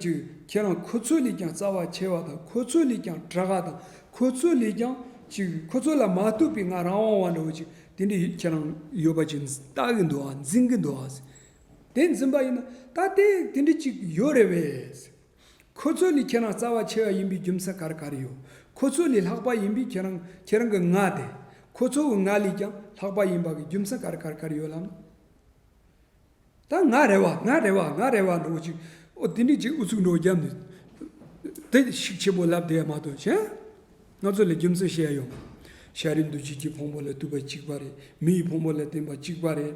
ཀྱི་ཁྱེད་རང་ཁོ་ཚོ་ལས་ཀྱང་རྩ་བ་ཆེ་བ་དང་ཁོ་ཚོ་ལས་ཀྱང་གྲགས་ཀ་དང་ཁོ་ཚོ་ལས་ཀྱང་ཅིག་ཁོ་ཚོ་ལ་མ་ལྟོས་པའི་ང་རང་དབང་བ་འདྲ་བོ་ཅིག་དེ་འདྲ་ཡོད་ཁྱེད་རང་ཡོད་པ་ཅིག་ལྟ་གི་འདུག་ཨ་འཛིན་གི་འདུག་ཨ། དེ་འཛིན་པ་ཡིན་ན་ད་དེ་དེ་འདྲ་ཅིག་ཡོད་རེད་བས། ཁོ་ཚོ་ལས་ཁྱེད་རང་རྩ་བ་ཆེ་བ་ཡིན་པའི་རྒྱུ་མཚན་ག་རེ་ག་རེ་ཡོད། ཁོ་ཚོ་ལས་ལྷག་པ་ཡིན་པའི་ཁྱེད་རང་ཁྱེད་རང་གི་ངག་དེ། ཁོ་ཚོ་གི་ངག་ལས་ཀྱང་ལྷག་པ་ཡིན་པ་གི་རྒྱུ་མཚན་ག་རེ་ག་རེ་ག་རེ་ཡོད་ལམ། ད་ང་རེ་བ་ང་རེ་བ་ང་རེ་བ་འགྲོ་གི་ཅིག་ཨོ་དེ་འདྲའི་ཅིག་ཨུ་ཚུགས་འགྲོ་གི་རྒྱབ་ནས་དེ་ཤིག་ཆེ་པོ་ལབ་དེ་མ་གཏོགས་ཆེ། ང་ཚོ་ལས་རྒྱུ་མཚན་བཤད་ཡ་ཡོད་མ། ཤ་རིའི་འདུ་བྱེད་ཀྱི་ཕུང་པོ་ལས་བཏུས་པ་གཅིག་པ་རེད་མི་ཡི་ཕུང་པོ་ལས་བརྟེན་པ་གཅིག་པ་རེད།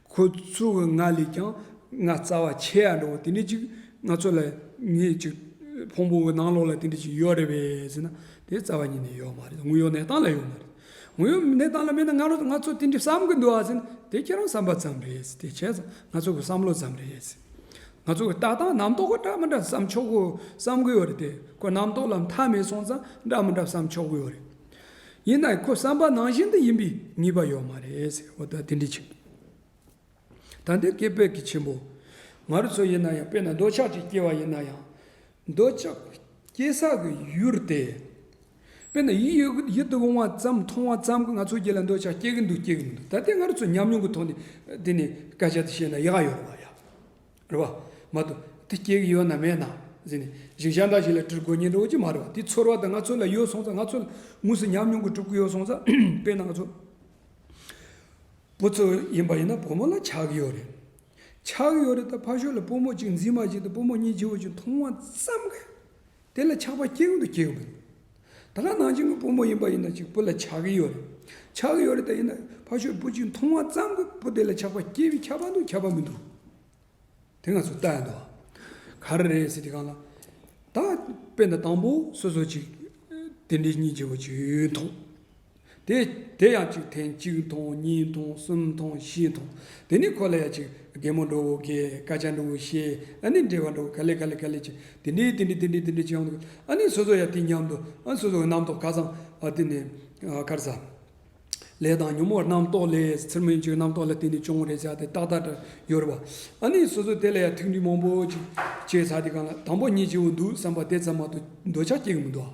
ཁོ་ཚོ་གི་ང་ལས་ཀྱང་ང་རྩ་བ་ཆེ་ཡ་འདྲ་བོ་དེ་འདྲས་ཅིག་ང་ཚོ་ལ་ངེད་ཅིག་ཕུང་པོ་གི་ནང་ལོགས་ལ་དེ་འདྲས་ཅིག་ཡོད་རེད་བས་ཟེར་ན་དེ་རྩ་བ་ཉིད་ནས་ཡོད་མ་རེད་དངོས་ཡོད་གནས་སྟངས་ལ་ཡོད་མ་རེད། དངོས་ཡོད་གནས་སྟངས་ལ་མེད་ན་ང་རོ་ང་ཚོ་དེ་འདྲས་བསམ་གི་འདུག་ཨ་ཟེར་ན་དེ་ཁྱེད་རང་བསམ་པ་ཙམ་རེད་ཟེར་དེ་བྱས་ཙང་ང་ཚོ་གི་བསམ་བློ་ཙམ་རེད་ཟེར། ང་ཚོ་གི་ལྟ་སྟངས་རྣམ་རྟོག་གི་འདྲ་མི་འདྲ་བསམ་ཆོག་གི་བསམ་གི་ཡོད་རེད་དེ་ཁོ་རྣམ་རྟོག་ལ་མཐའ་མེད་སོང་ཙང་འདྲ་མི་འདྲ་བསམ་ཆོག་གི་ཡོད་རེད། ཡིན་ནའི་ཁོ་བསམ་པ་ནང་བཞིན་དུ་ཡིན་པའི་ངེས་པ་ཡོད་མ་རེད་ཟེར་འོ་ད་དེ་འདྲའི་ཆེན་པོ་ད་འདི་སྐད་བོད་ཀྱི་ཆེན་པོ་ང་རོ་ཚོ་ཡིན་ན་ཡང་དཔེར་ན་འདོད་ཆགས་ཀྱིས་སྐྱེ་བ་ཡིན་ན་ཡང་འདོད་ཆགས་སྐྱེ་ས་གི་ཡུལ་དེ་དཔེར་ན་ཡིད་ཡུལ་ཡིད་དུ་འོང་བ་ཙམ་མཐོང་བ་ཙམ་གྱིས་ང་ཚོ་རྒྱུད་ལ་འདོད་ཆགས་སྐྱེ་གི་འདུག་སྐྱེ་གི་མི་འདུག་ད་ལྟའི་ང་རོ་ཚོ་ཉམས་མྱོང་གི་ཐོག་ནས་དེ་ནས་སྐད་ཆ་དེ་བཤད་ན་ཡག་ཡོད་རེད་བ་ཡ། རེད་བ། མ་དུ། དེ་སྐྱེ་གི་ཡོད་ན་མེད་ན། ཟེར་ནས། གཞི་ཞག་འདྲ་ཞིག་ལ་གྲིར་འགོ་ཉེན་འགྲོ་གི་མ་རེད་བ། དེ་ཚོར་བ་དང་ང་ཚོ་ལ་ཡོད་སོང་ཙང་ང་ཚོ་ལ་དངོས་སུ་ཉམས་མྱོང་གི་གྲུབ་ཀྱི་ཡོད་སོང་ཙང་དཔེར་ན་ང་ཚོ་བུ་ཚོ་ཡིན་པ་ཡིན་ན་བུ་མོ་ལ་ཆགས་ཀྱི་ཡོད་རེད། ཆགས་ཀྱི་ཡོད་རེད་ད་ཕ་ཤུལ་ལ་བུ་མོ་གཅིག་འཛིན་མ་བྱེད་དུ་བུ་མོ་གཉིས་བྱེད་དགོས་ཀྱི་མཐོང་བ་ཙམ་གྱི། དེ་ལ་ཆགས་པ་སྐྱེ་གི་འདུག་སྐྱེ་གི་འདུག་ད་ཁ་ནང་བྱིངས་ཀྱི་སྤུ་མོ་ཡིན་པ་ཡིན་ན་ཅིག་སྤུ་ལ་ཆགས་ཀྱི་ཡོད་རེད་ཆགས་ཀྱི་ཡོད་རེད་ད་ཡིན་ན་ཕ་ཆོས་སྤུ་གཅིག་མཐོང་བ་ཙམ་གྱིས་སྤུ་དེ་ལ་ཆགས་པ་སྐྱེ་བའི་ཁྱབ་པ་འདུག་ཁྱབ་པ་མི་འདུག་དེ་ང་ཚོས་བལྟ་ཡང་འདུག་ག་རེ་རེད་ཟེར་དུས་གང་ལ་ད་དཔེ་ཟླ་དང་པོ་སོ་སོ་ཅིག་དེ་འདྲའི་གཉིས་བྱས་པ་ཅིག་མཐོང། དེ་དེ་ཡང་གཅིག་ཐེངས་གཅིག་ཐོངས་གཉིས་ཐོངས་གསུམ་ཐོངས་བཞི་ཐོངས་དེ་ནི་ཁོ་ལ་ཡང་གཅིག་རྒན་མོ་འགྲོ་འོ་གས་སྐད་ཆ་འགྲོ་འོ་ཤེས་ཨ་ནི་འདྲེ་བ་འགྲོ་ག་ལེ་ག་ལེ་ག་ལེ་ཅི་དེ་འདྲི་དེ་འདྲི་དེ་འདྲི་དེ་འདྲི་ཅི་ཡང་འདུག་ཨ་ནི་སོ་སོ་ཡང་དེ་མཉམ་དུ་ཨ་སོ་སོ་གི་རྣམ་རྟོག་ཁ་སང་ཨ་དེ་ནས་ཁར་ཟ་ལེ་དང་ཉོན་མོངས་རྣམ་རྟོག་ལས་ཚུར་མི་འཇུག་རྣམ་རྟོག་ལ་དེ་ནི་ཅུང་ངུ་རེ་བྱ་སྟེ་ཏག་ཏག་འདྲ་ཡོད་རེ་བ་ཨ་ནི་སོ་སོ་དེ་ལ་ཡང་ཐུགས་འདྲི་མང་པོ་ཅིག་བྱས་ཚར་དེ་གང་ལ་དང་པོ་གཉིས་ཅི་འོ་འདུག་བསམ་པ་དེ་ཙམ་མ་གཏོགས་འདོད་ཆགས་སྐྱེ་གི་མི་འདུག་ཨ།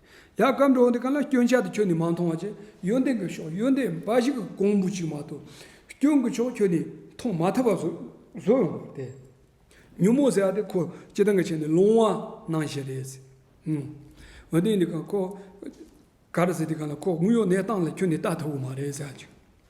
ཡ་སྐར་འགྲོ་འདི་ག་ལ་སྐྱོན་ཆ་དེ་ཁྱོད་ནས་མ་མཐོང་བ་ཅི་ཡོན་ཏན་གྱི་ཕྱོགས་ཡོན་ཏན་འབའ་ཞིག་གི་གོང་བུ་ཅིག་མ་གཏོགས་སྐྱོན་གྱི་ཕྱོགས་ཁྱོད་ནས་མཐོང་མ་ཐུབ་པ་བཟོ་ཡོང་བ་དེ་ཉོན་མོངས་ཟེར་བ་དེ་ཁོ་སྤྱི་སྟངས་ཀྱི་ཆེད་ནས་སློང་བ་གནང་བཞིན་རེད་ཟེར་འོན་ཏན་འདི་ག་ཁོ་ག་རེ་ཟེར་འདི་ག་ལ་ཁོ་དངུལ་གཡོག་གནས་སྟངས་ལ་ཁྱོད་ནས་བལྟ་ཐུབ་གི་མ་རེད་ཟེར་བ་ཅིག།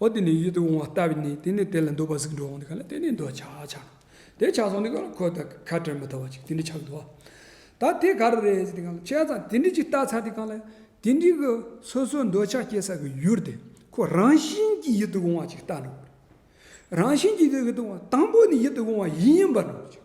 འོ་དེ་ནས་ཡིད་དུ་འོང་བ་ལྟ་བས་ནི་དེ་ནས་དེ་ལ་འདོད་པ་གཟུགས་འགྲོ་འོང་དུ་ག་ལ་དེ་ནས་འདོད་ཆགས་ཆགས་ནས་དེ་ཆགས་སོང་དེ་ག་ལ་ཁོ་ད་ཁ་བྲལ་མི་ཐུབ་བ་ཅིག་དེ་འདྲའི་ཆགས་འདུག་ད་དེ་ག་རེ་རེད་ཟེར་ཏེ་ཁྱད་ཙང་དེ་འདྲའི་ཅིག་བལྟ་ཚར་ཏེ་གང་ལ་དེ་འདྲའི་གི་སོ་སོའི་འདོད་ཆགས་སྐྱེ་ས་གི་ཡུལ་དེ་ཁོ་རང་བཞིན་གྱིས་ཡིད་དུ་འོང་བ་ཅིག་བལྟ་འགྲོ་དགོས། རང་བཞིན་གྱིས་ཡིད་དུ་འོང་བ་དང་པོ་ནི་ཡིད་དུ་འོང་བ་ཡིན་པར་འགྲོ་ཅིག།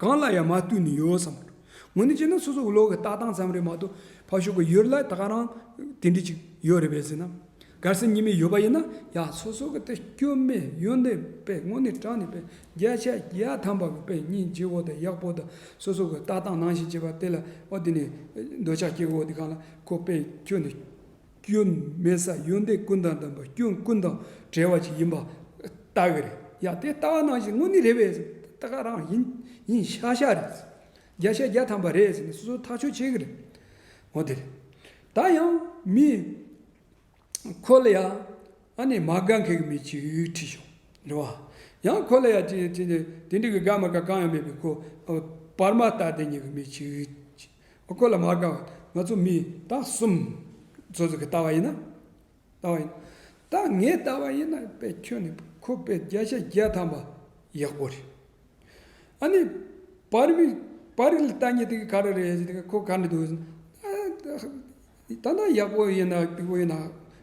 གང་ལ་ཡང་མ་བལྟོས་ནས་ཡོད་བསམ། ངོ་ནས་བྱས་ན་སོ་སོ་གློག་གི་ལྟ་སྟངས་ཙམ་རེད་མ་གཏོགས་ཕར་ཞོག་གི་ཡོད་ལ་ད་ག་རང་དེ་འདྲི་ཅིག་ཡོད་རེད་བས་ཟེར་ན། གར་སེར་གཉིས་མེད་ཡོད་པ་ཡིན་ན་ཡང་སོ་སོ་གི་དེ་སྐྱོན་མེད་ཡོན་ཏན་པས་སྔོན་ནས་དྲངས་ནས་པས་བརྒྱ་ཆ་བརྒྱ་ཐམ་པ་གི་པས་སྙིང་རྗེ་བོ་དང་ཡག་པོ་དང་སོ་སོ་གི་ལྟ་སྟངས་ནང་བཞིན་བྱས་པ་དེ་ལ་ཨོ་དེ་ནས་འདོད་ཆགས་སྐྱེ་གོ་དེ་གང་ལ་གོ་པས་ཁྱོད་ནི། སྐྱོན་མེད་ས་ཡོན་ཏན་ཀུན་དང་ལྡན་པ་སྐྱོན་ཀུན་དང་བྲལ་བ་ཞིག་ཡིན་པ་ལྟ་གི་རེད་ཡ་དེ་ལྟ་བ་ནང་བཞིན་དངོས་གནས་རེད་བས་ད་ག་རང་ཡིན་ཡིན་ཤ་ཤ་རེད་བརྒྱ་ཆ་བརྒྱ་ཐམ་པ་རེད་ཟེར་ནས་སོ་སོ་ཐག་ཆོད་བྱེད་གི་རེད་མོ་དེ་རེད་ད་ཡང་མི་ཁོ་ལ་ཡང་ཨ་ནེ་མ་དགའ་མཁན་གི་མི་གཅིག་ཁྲིད་བྱུང་རེད་བ་ཡང་ཁོ་ལ་ཡང་དེ་འདྲའི་དགའ་མ་དགའ་གང་ཡང་མེད་པའི་ཁོ་བར་མ་ལྟ་དེ་ཉིད་ཀྱི་མི་གཅིག་བཀོད་ལ་མ་དགའ་བ་ང་ཚོ་མི་དང་གསུམ། ཚོད་ཚོད་ཀྱི་ལྟ་བ་ཡིན་ན། ལྟ་བ་ཡིན་ད་ངའི་ལྟ་བ་ཡིན་ན་པེ་ཁྱོད་ནི་ཁོ་པེ་བརྒྱ་ཆ་བརྒྱ་ཐམ་པ་ཡག་པོ་རེད། ཨ་ནི་བ་རི་མི་བ་རི་ལ་ལྟ་ཉེ་དེ་གི་ག་རེ་རེད་ཟེར་དེ་ཁོ་ག་ནས་འདུག་ཟེར་ད་ད་ཡག་པོ་ཡིན་ན་སྟུག་པོ་ཡིན་ན་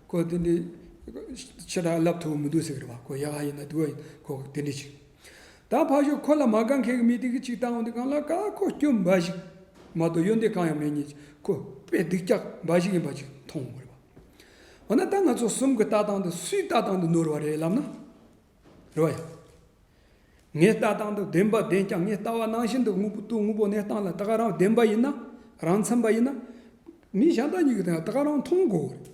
ཁོ་དེ་འདྲའི་ཕྱི་དགྲ་ལབ་ཐུབ་མི་འདུག་ཟེར་གི་རེད་བ་ཁོ་ཡག་ཡིན་ན་སྟུག་པོ་ཡིན་ན་ཁོ་དེ་འདྲའི་ཆེ། ད་ཕ་ཞོག་ཁོ་ལ་མ་དགའ་མཁན་གྱི་མི་དེ་གི་ཅིག་བཏང་འོང་དེ་གང་ལ་ཀ་ཁོ་སྐྱོན་འབའ་ཞིག་མ་གཏོགས་གཡོ་འདེད་གང་ཡང་མེད་ཉིད་ཅིག་ཁོ་དཔེ་སྡིག་སྐྱག་འབའ་ཞིག་ཡིན་པ་ཅིག་མཐོང་དགོས་པ། འོ་ན་ད་ང་ཚོ་གསུམ་གྱི་ལྟ་སྟངས་འདི་སུའི་ལྟ་སྟངས་འདི་ནོར་བ་རེད་ལབ་ན་རེ་བ་ཡོད། ངའི་ལྟ་སྟངས་འདི་བདེན་པ་བདེན་ཀྱང་ངའི་ལྟ་བ་ནང་བཞིན་དུ་དངོས་པོ་སྟུག་དངོས་པོ་གནས་སྟངས་ལ་ད་ག་རང་བདེན་པ་ཡིན་ན་རང་འཚམ་པ་ཡིན་ན། མི་གཞན་དག་གཉིས་ཀྱི་དེ་ད་ག་རང་མཐོང་དགོས་རེད།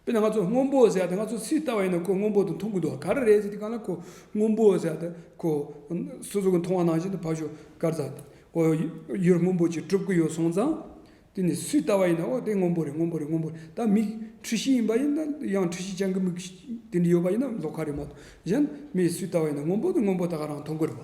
དཔེར་ན་ང་ཚོ་སྔོན་པོ་ཟེར་ཡ་དེ་ང་ཚོ་ཚིག་ལྟ་བ་ཡིན་ན་ཁོ་སྔོན་པོ་དུ་མཐོང་གི་འདུག་ག་རེ་རེད་ཟེར་དེ་ག་ལ་ཁོ་སྔོན་པོ་ཟེར་ཡ་དེ་ཁོ་སོ་སོ་གི་མཐོང་བ་ནང་བཞིན་དུ་ཕར་ཞོག་དཀར་ཟ་ཨོ་ཡོད་སྔོན་པོ་ཅིག་གྲུབ་ཀྱི་ཡོད་སོང་ཙང། དེ་ནི་ཚིག་ལྟ་བ་ཡིན་ན་ཨོ་དེ་སྔོན་པོ་རེད་སྔོན་པོ་རེད་སྔོན་པོ་རེད་ད་མིག་འཁྲུལ་ཤེས་ཡིན་པ་ཡིན་ན་ཡང་འཁྲུལ་ཤེས་ཅན་གྱི་མིག་དེ་འདྲ་ཡོད་པ་ཡིན་ན་ལོག་ཁ་རེད་མ་གཏོགས་གཞན་མིས་ཚིག་ལྟ་བ་ཡིན་ན་སྔོན་པོ་དེ་སྔོན་པོ་ད་ག་རང་མཐོང་གི་རེད་བ།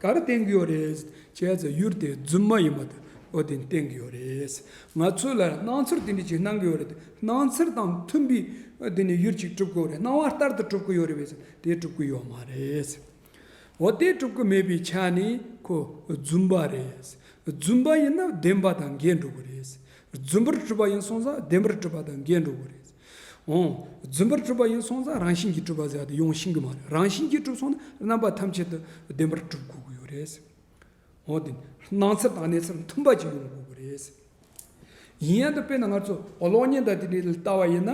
ག་རེ་བསྟན་གྱི་ཡོད་རེད་ཅེས་ཟེར་ཡུལ་དེ་རྫུན་མ་ཡིན་པ་དེ་བོད་དོན་བསྟན་གྱི་ཡོད་རེད། ང་ཚོས་ལ་སྣང་ཚུལ་དེ་འདྲའི་ཞིག་གནང་གི་ཡོད་རེད་སྣང་ཚུལ་དང་མཐུན་པའི་སྒོ་ནས་ཡུལ་ཅིག་གྲུབ་ཀྱི་ཡོད་རེད་སྣང་བ་ལྟར་དུ་གྲུབ་ཀྱི་ཡོད་རེད་བས་སམ་དེ་གྲུབ་ཀྱི་ཡོད་མ་རེད། འོ་དེ་གྲུབ་ཀྱི་མེད་པའི་ཆ་ནས་ཁོ་རྫུན་པ་རེད། རྫུན་པ་ཡིན་ན་བདེན་པ་དང་འགལ་འགྲོ་གི་རེད། རྫུན་པར་གྲུབ་པ་ཡིན་སོང་ཙང་བདེན་པར་གྲུབ་པ་དང་འགལ་འགྲོ་གི་རེད། འོང། རྫུན་པར་གྲུབ་པ་ཡིན་སོང་ཙང་རང་བཞིན་གྱིས་གྲུབ་པ་ཟེར་བ་དེ་ཡོང་ཤིན་གྱི་མ་རེད། རང་བཞིན་གྱིས་གྲུབ་སོང་ན་རྣམ་པ་ཐམས་ཅད་དུ་བདེན་པར་གྲུབ་དགོས་ཀྱི་ཡོད་རེད། འོང། དེ་སྣང་ཚུལ་དང་གནས་ཚུལ་མཐུན་པ་ཅིག་ཡོང་དགོས་ཀྱི་རེད། ཡིན་ཡང་དེ་དཔེར་ན་ང་ཚོ་གློག་བརྙན་དང་དེ་འདྲའི་ལ་ལྟ་བ་ཡིན་ན།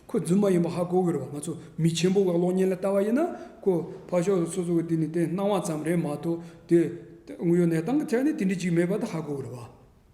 ཁོ་རྫུན་མ་ཡིན་པ་ཧ་གོ་གི་རེད་བ། ང་ཚོ་མི་ཆེན་པོ་བས་གློག་བརྙན་ལ་ལྟ་བ་ཡིན་ན། ཁོ་ཕ་ཤོག་སོ་སོ་གི་དེ་ནི་དེ་སྣང་བ་ཙམ་རེད་མ་གཏོགས་དེ་དངོས་ཡོད་གནས་སྟངས་ཀྱི་ཐད་ནས་དེ་འདྲའི་ཅིག་མེད་པ་དེ་ཧ་གོ་གི་རེད་བ།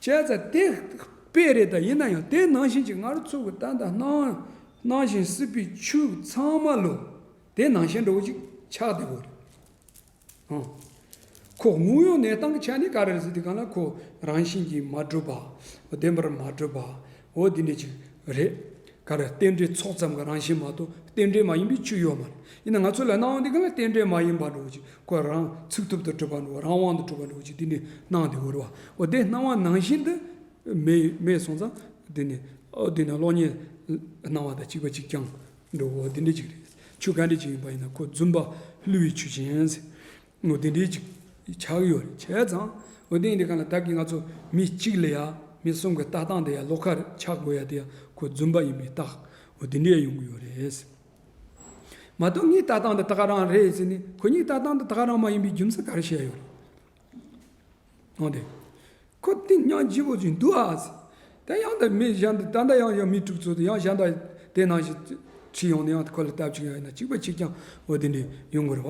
བྱས་ཙང་དེ་དཔེ་རེད་ད་ཡིན་ན་ཡང་དེ་ནང་བཞིན་གྱི་ང་རོ་ཚུགས་ཀྱི་ལྟ་འདང་སྣང་སྣང་བཞིན་སྲིད་པའི་ཆོས་ཚང་མ་ལོ་དེ་ནང་བཞིན་འགྲོ་ཅིག་ཆགས་བདེ་བོ་རེད་ཨང། ཁོ་དངོས་ཡོད་གནས་སྟངས་ཀྱི་ཆ་ནས་ག་རེ་རེད་ཟེར་དུས་གང་ལ་ཁོ་རང་བཞིན་གྱིས་མ་གྲུབ་པ། བདེན་པར་མ་གྲུབ་པ། འོ་དེ་འདྲའི་ཆུ་རེད། ག་རེ་རྟེན་འབྲེལ་ཚོགས་ཙམ་གྱི་རང་བཞིན་མ་གཏོགས་རྟེན་འབྲེལ་མ་ཡིན་པའི་ཆུ་ཡོད་མ་རེད། ཡིན་ན་ང་ཚོ་ལ་སྣང་བ་འདི་ག་ལ་རྟེན་འབྲེལ་མ་ཡིན་པ་འགྲོ་ཅིག་ཁོ་རང་ཚུགས་ཐུབ་དུ་གྲུབ་པ་འགྲོ་རང་དབང་དུ་གྲུབ་པ་འགྲོ་ཅིག་དེ་ནི་སྣང་དེ་འོར་བ་འོ་དེ་སྣང་བ་ནང་བཞིན་དུ་མེད་སོང་ཙང་དེ་ནི་ཨོ་དེ་ནི་གློག་བརྙན་སྣང་བ་དང་གཅིག་པ་གཅིག་རྐྱང་འགྲོ་འོ་དེ་འདྲའི་ཆུ་རེད། ཆུ་ག་འདྲའི་ཆུ་ཡིན་པ་ཡིན་ན་ཁོ་རྫུན་པ་བསླུ་བའི་ཆུ་ཅན། ངོ་དེ་འདྲའི་ཅིག་ཆགས་ཡོད་རེད་བྱས་ཙང་ངོ་དེ་འདྲའི་གང་ལ་བདག་གིས་ང་ཚོ་མི་གཅིག་ལ་ཡང་མི་གསུམ་གི་ལྟ་སྟངས་དེ་ཡང་བློ་ཁ་རེད་ཆགས་དགོས་ཡ་དེ་ཡང་ཁོ་རྫུན་པ་ཡིན་པའི་རྟགས་ངོ་དེ་འདྲས་ཡོང་གི་ཡོད་རེད། མ་གཏོགས་ངའི་ལྟ་སྟངས་འདི་དག་རང་རེད་ཟེར་ནས་ཁོ་གཉིས་ལྟ་སྟངས་འདི་དག་རང་མ་ཡིན་པའི་རྒྱུ་མཚན་ག་རེ་བཤད་ཡོད་རེད། གནང་སྟེ། ཁོ་ཏིང་གཉང་སྐྱིད་པོ་ཅིག་འདུག་ཨ། དེ་ཡང་དེ་མི་གཞན་དུ་ད་ལྟ་ཡང་ཡང་མི་དྲུག་ཚོ་དེ་ཡང་གཞན་དག་དེ་ནང་བཞིན་ཁྲིད་ཡོང་ནས་ཡང་ཁོ་ལ་སྟབས་ཅིག་ཡང་ཡིན་ན་གཅིག་པ་གཅིག་ཀྱང་འོ་དེ་འདྲའི་ཡོང་དགོས་རེད་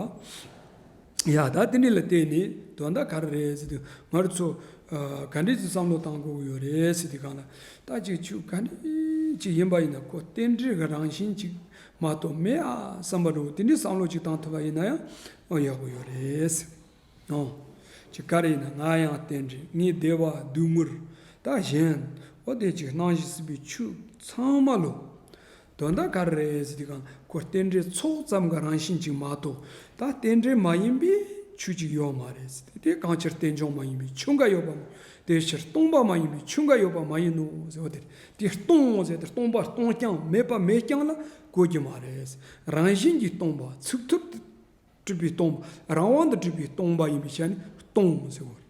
བ། ཡ་ད་དེ་འདྲའི་ལ་བལྟས་ནས་དོན་དག་ག་རེ་རེད་ཟེར་དུས་ང་རོ་ཚོ་ག་འདྲའི་ཚོ་བསམ་བློ་བཏང་དགོས་ཀྱི་ཡོད་རེད་ཟེར་དུས་གང་ལ་ད་ཅིག་ཆུ་ག་འདྲའི་ཅིག་ཡིན་པ་ཡིན་ན་ཁོ་རྟེན་འབྲེལ་གྱི་རང་བཞིན་ཅིག་མ་གཏོགས་མེད་ཨ་བསམ་པ་འདྲ་བོ་དེ་འདྲའི་བསམ་བློ་ཅིག་བཏང་ཐུབ་པ་ཡིན་ན་ཡང་ཡག་པོ་ཡོད་རེད། ཡང། ཅི་དགར་ཡིན་ན་ང་ཡང་རྟེན་འབྲེལ་ངའི་བདེ་བ་བདུད་མུར་ད་བཞེངས། འོ་དེ་ཅིག་སྣང་བཞི་སྲིད་པའི་ཆུ་ཚང་མ་ལོ། དོན་དག་ག་རེ་རེད་ཟེར་དུས་གང་ཁོ་རྟེན་འབྲེལ་ཚོགས་ཙམ་ག་རང་བཞིན་ཅིག་མ་གཏོགས་ད་རྟེན་འབྲེལ་མ་ཡིན་པའི་ཆུ་ཅིག་ཡོད་མ་རེད་ཟེར་དུས་དེ་གང་ཕྱིར་རྟེན་འབྱུང་མ་ཡིན་པའི་ཆུ་འགའ་ཡོད་པ་མ་དེ་ཕྱིར་སྟོང་པ་མ་ཡིན་པའི་ཆུ་འགའ་ཡོད་པ་མ་ཡིན་ནོ་ཟེར་འོ་དེར་དེ་སྟོང་ཟེར་དེར་སྟོང་པ་སྟོང་རྐྱང་མེད་པ་མེད་རྐྱང་ལ་གོ་རྒྱུ་མ་རེད་ཟེར་རང་བཞིན་གྱིས་སྟོང་པ་ཚུགས་ཐུབ། སྤྲུལ་པའི་སྟོང་པ་རང་དབང་དུ་སྤྲུལ་པའི་སྟོང་པ་ཡིན་པའི་ཆ་ནས་སྟོང་ཟེར་བ།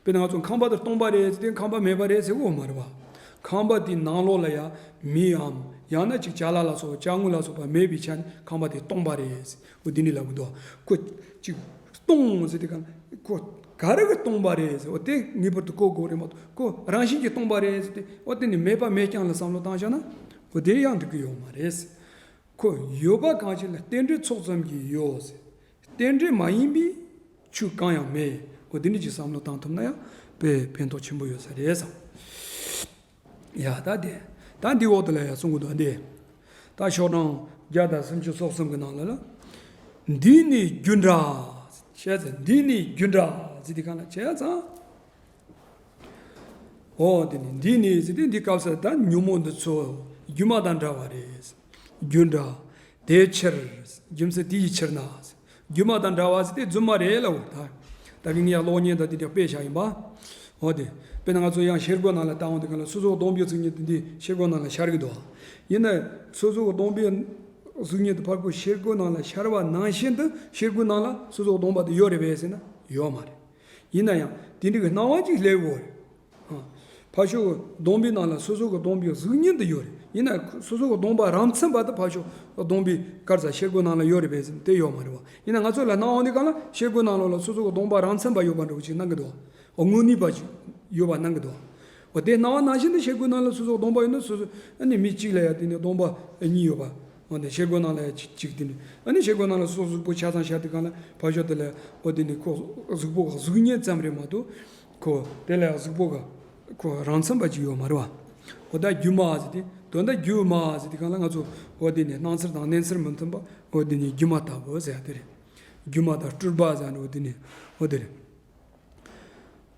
དཔེར་ན་ང་ཚོ་ཁང་པ་དེ་སྟོང་པ་རེད་ཟེར་ཏེ་ཁང་པ་མེད་པ་རེད་ཟེར་བ་མ་རེད་པ། ཁང་པ་དེའི་ནང་ལོགས་ལ་ཡང་མིའམ་ཡང་ན་ཅིག་བྱ་ལ་ལ་སོགས་བྱ་དངོས་ལ་སོགས་པ་མེད་པའི་ཆ་ནས་ཁང་པ་དེ་སྟོང་པ་རེད་ཟེར་བ་འདི་ནས་ལབ་དགོས་འདུག་ཁོ་ཅིག་སྟོང་ཟེར་ཏེ་གང་ཁོ་ག་རེ་གི་སྟོང་པ་རེད་ཟེར་བ་དེ་ངེས་པར་དུ་གོ་དགོས་རེད་མ་གཏོགས་ཁོ་རང་བཞིན་གྱིས་སྟོང་པ་རེད་ཟེར་ཏེ་འོ་དེ་ནི་མེད་པ་མེད་རྐྱང་ལ་བསམ་བློ་བཏང་བཞག་ན་འོ་དེ་ཡང་འགྲིག་གི་ཡོད་མ་རེད། ཁོ་ཡོད་པ་གང་ཞིག་ལ་རྟེན་འབྲེལ་ཚོགས་ཙམ་གྱིས་ཡོད། རྟེན་འབྲེལ་མ་ཡིན་པའི་ཆོས་གང་ཡང་མེད། འོ་དེ་འདྲ་གྱི་བསམ་བློ་བཏང་ཐུབ་ན་ཡང་བོད་པའི་ཕན་ཐོགས་ཆེན་པོ་ཡོད་ས་རེད་བསམ། ཡ་ད་དེ་ད་འདིའི་འོག་ཏུ་ལ་ཡ་གསུང་གི་འདུག་འདི་ད་ཤོག་གྲངས་བརྒྱ་དང་སུམ་ཅུ་སོ་གསུམ་གི་ནང་ལ་ལ། འདི་ནི་རྒྱུ་འདྲ། བྱས་ཙང་འདི་ནི་རྒྱུ་འདྲ་ཟེར་དེ་ག་ལ་བྱས་ཙང། ཨོ། འདི་ནི་འདི་ནི་ཟེར་ཏེ་འདི་སྐབས་སུ་ད་ཉོན་མོངས་འདི་ཚོ་སྒྱུ་མ་དང་འདྲ་བ་རེད། རྒྱུ་འདྲ། དེའི་ཕྱིར། རྒྱུ་མཚན་དེ་ཡི་ཕྱིར་ན། སྒྱུ་མ་དང་འདྲ་བ་ཟེར་ཏེ་རྫུན་མ་རེད་ལ། ད་གིན་ངས་གློག་བརྙན་དང་འདི་འདྲ་དཔེ་བཞག་ཡིན་པ། ཨོ་དེ། དཔེར་ན་ང་ཚོ་ཡང་ཤེལ་སྒོའི་ནང་ལ་ལྟ་འོང་དེ་ག་ལ་སོ་སོའི་སྟོང་པའི་གཟུགས་བརྙན་དེ་འདི་ཤེལ་སྒོའི་ནང་ལ་ཤར་གི་འདུག་ཡིན་ནའི་སོ་སོའི་སྟོང་པའི་གཟུགས་བརྙན་དེ་ཕར་ཁུག་ཤེལ་སྒོའི་ནང་ལ་ཤར་བ་ནང་བཞིན་དུ་ཤེལ་སྒོའི་ནང་ལ་སོ་སོའི་སྟོང་པ་དེ་ཡོད་རེད་བས་ཟེར་ན་ཡོད་མ་རེད། ཡིན་ན་ཡང་དེ་འདྲ་གི་སྣང་བ་ཅིག་སླེབས་ཡོད་རེད། ཕར་ཞོག་སྡོམ་པའི་ནང་ལ་སོ་སོ་གི་སྡོམ་པའི་གཟུགས་བརྙན་དུ་ཡོད་རེད། ཡིན་ན་སོ་སོ་གི་སྡོམ་པ་རང་མཚན་པ་དེ་ཕར་ཞོག་སྡོམ་པའི་སྐར་རྩ་ཤེལ་སྒོའི་ནང་ལ་ཡོད་རེད་པས་སེམས་དེ་ཡོད་མ་རེད་བ། ཡིན་ན་ང་ཚོ་ལ་སྣང་བ་འདི་ག་ལ་ཤེལ་སྒོའི་ནང་ལོགས་ལ་སོ་སོ་གི་སྡོམ་པ་རང་མཚན་པ་ཡོད་པ་འདྲ་བོ་ཅིག་སྣང་གི་འདུག་བ། དངོས་ནུས་པ་ཅིག་ཡོད་པ་སྣང་གི་འདུག་བ། དེ་སྣང་བ་ནང་བཞིན་དུ་ཤེལ་སྒོའི་ནང་ལ་སོ་སོ་གི་སྡོམ་པ་ཡོད་ན་སོ་སོ་ནི་མི་གཅིག་ལ་ཡང་དེ་ནི་སྡོམ་པ་གཉིས་ཡོད་པ། འོ་དེ་ཤེལ་སྒོ་ནང་ལ་གཅིག་དེ་ནི་ཨ་ནི་ཤེལ་སྒོ་ནང་ལ་སོགས་གཟུགས་པོ་ཆ་ཚང་ཤར་དེ་གང་ལ་བབ་ཤོག་དེ་ལ་འོ་དེ་ནི་ཁོ་གཟུགས་པོ་གཟུགས་བརྙན་ཙམ་རེ་མ་གཏོགས་ཁོ། དེ་ལ་གཟུགས་པོ་ག་ཁོ་རང་མཚན་པ་ཅིག་ཡོད་མ་རེད་བ། འོ་ད་རྒྱུ་མ་ཟེར་དེ་དོན་ད་རྒྱུ་མ་ཟེར་དེ་གང་ལ་ང་ཚོ་འོ་དེ་ནི་སྣང་ཚེར་དང་གནས་ཚེར་མི་མཐུན་པ་འོ་དེ་ནི་སྒྱུ་མ་ལྟ་བུ་ཟེར་ཡ་དེ་རེད། སྒྱུ་མ་དང་སྤྲུལ་པ་ཟེར་ཡ་འོ་དེ་ནི་འོ་དེ་རེད།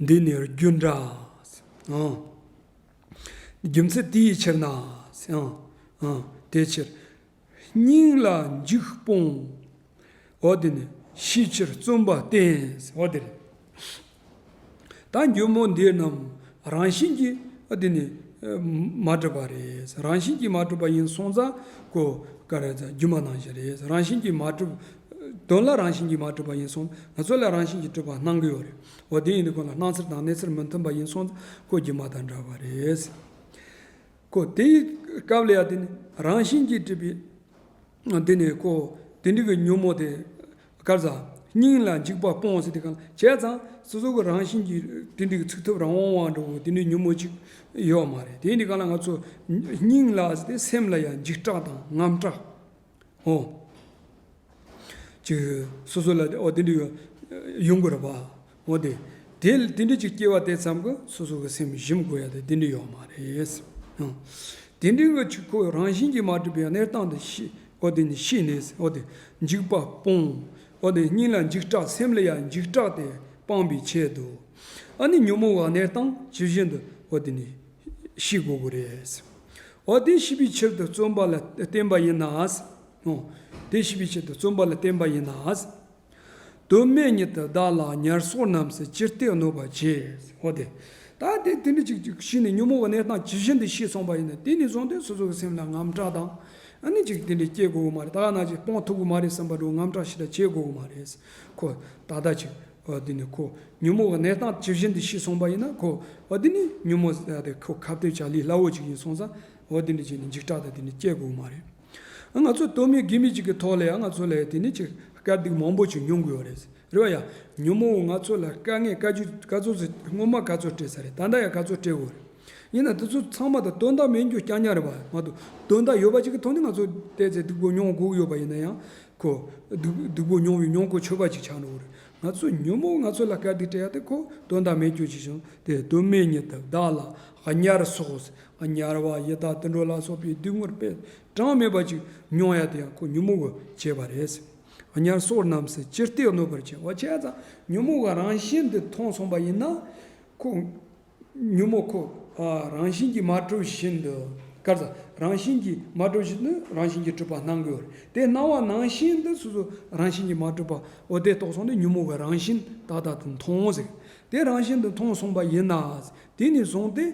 འདི་ནི་རྒྱུ་འདྲ་ཨང། རྒྱུ་མཚན་དེ་ཡི་ཕྱིར་ན་ཨང། དེའི་ཕྱིར་སྙིང་ལ་འཇིགས་སྤོང། འོ་དེ་ནི་ཤེས་ཕྱིར་བརྩོན་པ་བསྟེན། འོ་དེ་ལས་ད་འགྱུར་མོ་འདི་རྣམས་རང་བཞིན་གྱིས་འོ་དེ་ནི་མ་གྲུབ་པ་རེད། རང་བཞིན་གྱིས་མ་གྲུབ་པ་ཡིན་སོང་ཙང་ཀོ་ཀ་རེད། སྒྱུ་མ་ནང་བཞིན་རེད། རང་བཞིན་གྱིས་མ་གྲུབ་དོན་ལ་རང་བཞིན་གྱིས་མ་གྲུབ་པ་ཡིན་སོང་ང་ཚོ་ལ་རང་བཞིན་གྱིས་གྲུབ་པ་སྣང་གི་ཡོད་རེད་འོ་དེ་ཡིན་དུས་ཁོ་ལ་སྣང་ཚུལ་དང་གནས་ཚུལ་མི་མཐུན་པ་ཡིན་སོང་ཀོ་རྒྱུ་མ་དང་འདྲ་བ་རེད། ཀོ་དེའི་སྐབས་ལ་ཡང་དེ་ནི་རང་བཞིན་གྱིས་གྲུབ་པའི། དེ་ནི་ཀོ་དེ་འདྲི་གི་ཉོན་མོངས་དེ་སྐར་རྩ། སྙིང་ལ་འཇིགས་པ་སྤོངས་སེ་དེ་གང་བྱས་ཙང་སོ་སོ་གི་རང་བཞིན་གྱིས་དེ་འདྲི་གི་ཚུགས་ཐུབ་རང་དབང་བ་འགྲོ་བའི་དེ་འདྲི་ཉོན་མོངས་ཅིག་ཡོད་མ་རེད་དེ་ཡིན་དུས་གང་ལ་ང་ཚོ་སྙིང་ལ་སེམས་ལ་ཡང་འཇིགས་སྐྲག་དང་ངམ་སྐྲག་ཨོ། ཅིག། སོ་སོ་ལ་དེ་འོ་དེ་འདྲ་ཡོང་དགོས་ར་བ། འོ་དེ། དེ་དེ་འདྲ་ཅིག་སྐྱེ་བ་དེ་ཙམ་གྱི་སོ་སོ་གྱི་སེམས་ཞིམ་དགོས་ཡ་དེ་དེ་འདྲ་ཡོག་མ་རེད། ཨོ། དེ་འདྲ་གི་ཆུ་ཁོ་རང་བཞིན་གྱིས་མ་གྲུབ་པའི་གནས་སྟངས་དེ་ཤི། འོ་དེ་ནི་ཤི་ནས་འོ་དེ་འཇིགས་པ་སྤོང། འོ་དེ་སྙིང་ལ་འཇིགས་སྐྲག་སེམས་ལ་ཡ་འཇིགས་སྐྲག་དེ་སྤང་པའི་ཆེད་དུ། ཨ་ནི་ཉོན་མོངས་བ་གནས་སྟངས་ཇི་བཞིན་དུ་འོ་དེ་ནི། ཤི་དགོས་དགོས་རེད། འོ་དེ་ཤི་བའི་ཕྱིར་དུ་བརྩོན་པ་ལ་བརྟེན་པ་ཡིན་ནའང། དེ་ཤི་བའི་ཕྱིར་དུ་བརྩོན་པ་ལ་བརྟེན་པ་ཡིན་ནའང། དུ་སྨད་ཉིད་དུ་བདག་ལ་ཉར་སོགས་རྣམས་སུ་ཅི་སྟེ་གནོད་པར་བྱེད། འོ་དེ་ལྟ་སྟེ་དེ་འདྲ་ཅིག་ཤི་ནས་ཉོན་མོངས་པ་ནས་དང་ཇི་བཞིན་དུ་ཤི་སོང་བ་ཡིན་ན་དེ་ནི་བཟང་དོན་སོ་སོ་གི་སེམས་ལ་ངམ་སྐྲག་དང་ནི་ཅིག་དེ་འདྲ་སྐྱེ་དགོས་ཀྱི་མ་རེད་ད་ག་ནང་ཅིག་སྤོང་ཐུབ་ཀྱི་མ་རེད་བསམ་པ་འདྲ་བོ་ངམ་སྐྲག་ཞིག་ད་བྱེད་དགོས་ཀྱི་མ་རེད། ཁོ་ད་ལྟ་ཅིག་བ་འདི་ནི་ཁོ་ཉོན་མོངས་པ་ནད་དང་ཇི་བཞིན་དུ་ཤི་སོང་བ་ཡིན་ན་ཁོ་བ་འདི་ནི་ཉོན་མོངས་པ་དེ་ཁོ་ཁ་བརྡའི་བྱ་ལས་སླ་བོ་ཅིག་ཡིན་སོང་ཙང་བ་འདི་ནི་ཅིས་ནི་འཇིགས་སྐྲག་དང་དེ་ནི་སྐྱེ་དགོས་མ་རེད། ང་ཚོ་དོན་མེད་དགེ་མེད་ཅིག་གི་ཐོག་ལའང་ང་ཚོ་ལ་དེ་ནི་ཅིག་དཀའ་སྡུག་མང་པོ་ཅིག་མྱོང་དགོས་བ་རེད། རེད་བ་ཡ། ཉོན་མོངས་པ་ང་ཚོ་ལ་དཀའ་ངལ་དཀའ་རྒྱུ་ག་ཚོད་ཟེར་སྔོན་མ་ག་ཚོད་སྤྲད་ས་རེད་ད་ལྟ་ཡང་ག་ཚོད་སྤྲད་དགོས་རེད། ཡིན་ན་དེ་ཚོ་ཚང་མ་དང་དོན་དག་མིན་རྒྱུ་སྐྱག་ཉག་རེད་པ་མ་གཏོགས་དོན་དག་ཡོད་པ་ཅིག་གི་ཐོག་ནས་ང་ཚོ་བལྟས་ཚེ་སྡུག་པོ་མྱོང་དགོས་ཀྱི་ཡོད་པ་ཡིན་ན་ཡང་ཁོ། སྡུག་པོ་མྱོང་བའི་མྱོང་གོ་ཆོད་པ་ཅིག་ཆགས་འགྲོ་གི་རེད། ང་ཚོ་ཉོན་མོངས་ང་ཚོ་ལ་སྐད་འདི་སྤྲད་དེ་ཁོ་དོན་དག་མེད་གྱུར་ཅིག་བྱུང་སྟེ་དོན་མེད་ཉིད་དུ་བདག་ལ་ཉར་སོགས་ཨ་ཉར་བ་ཡི་དྭགས་དུད་འགྲོ་ལ་སོགས་པའི་སྡུག་བསྔལ་དཔེ་དྲངས་མེད་པ་ཅིག་མྱོང་ཡ་དེ་ཡང་ཁོ་ཉོན་མོངས་ཀྱི་བྱས་པ་རེད། ཨ་ཉར་སོགས་རྣམས་སུ་ཅི་སྟེ་གནོད་པར་བྱེད་བ་ཆད་ཙམ་ཉོན་མོངས་ཀྱི་རང་བཞིན་འདི་མཐོང་སོང་པ་ཡིན་ན། ཁོ། ཉོན་མོངས་འཁོར་བ་རང་བཞིན་གྱིས་མ་གྲུབ་བཞིན་དུ། སྐར་ཚ་རང་བཞིན་གྱིས་མ་གྲུབ་བཞིན་དུ་རང་བཞིན་གྱིས་གྲུབ་པར་སྣང་དགོས། དེས་སྣང་བ་ནང་བཞིན་དུ་སོ་སོ་རང་བཞིན་གྱིས་མ་གྲུབ་པ་འོ་དེ་རྟོགས་སོང་ནས་ཉོན་མོངས་པའི་རང་བཞིན་དག་དག་ཏུ་མཐོང་ཟེར། དེ་རང་བཞིན་དུ་མཐོང་གསུངས་པ་ཡིན་ན། དེ་ནས་བཟུང་སྟེ།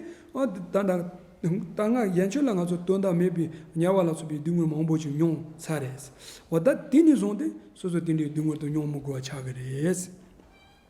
ད་ནངས་རྒྱལ་ཆོས་ལ་ང་ཚོས་དོན་དག་མེད་པའི་ཉེས་བར་ལ་སོགས་པའི་སྡུག་བསྔལ་མང་པོ་ཞིག་མྱོང་ཚར་རེད། འོ་ད་དེ་ནས་བཟུང་སྟེ་སོ་སོ་དེ་འདྲའི་སྡུག་བསྔལ་དུ་མྱོང་མི་དགོས་པ་ཆགས་ཀྱི་རེད།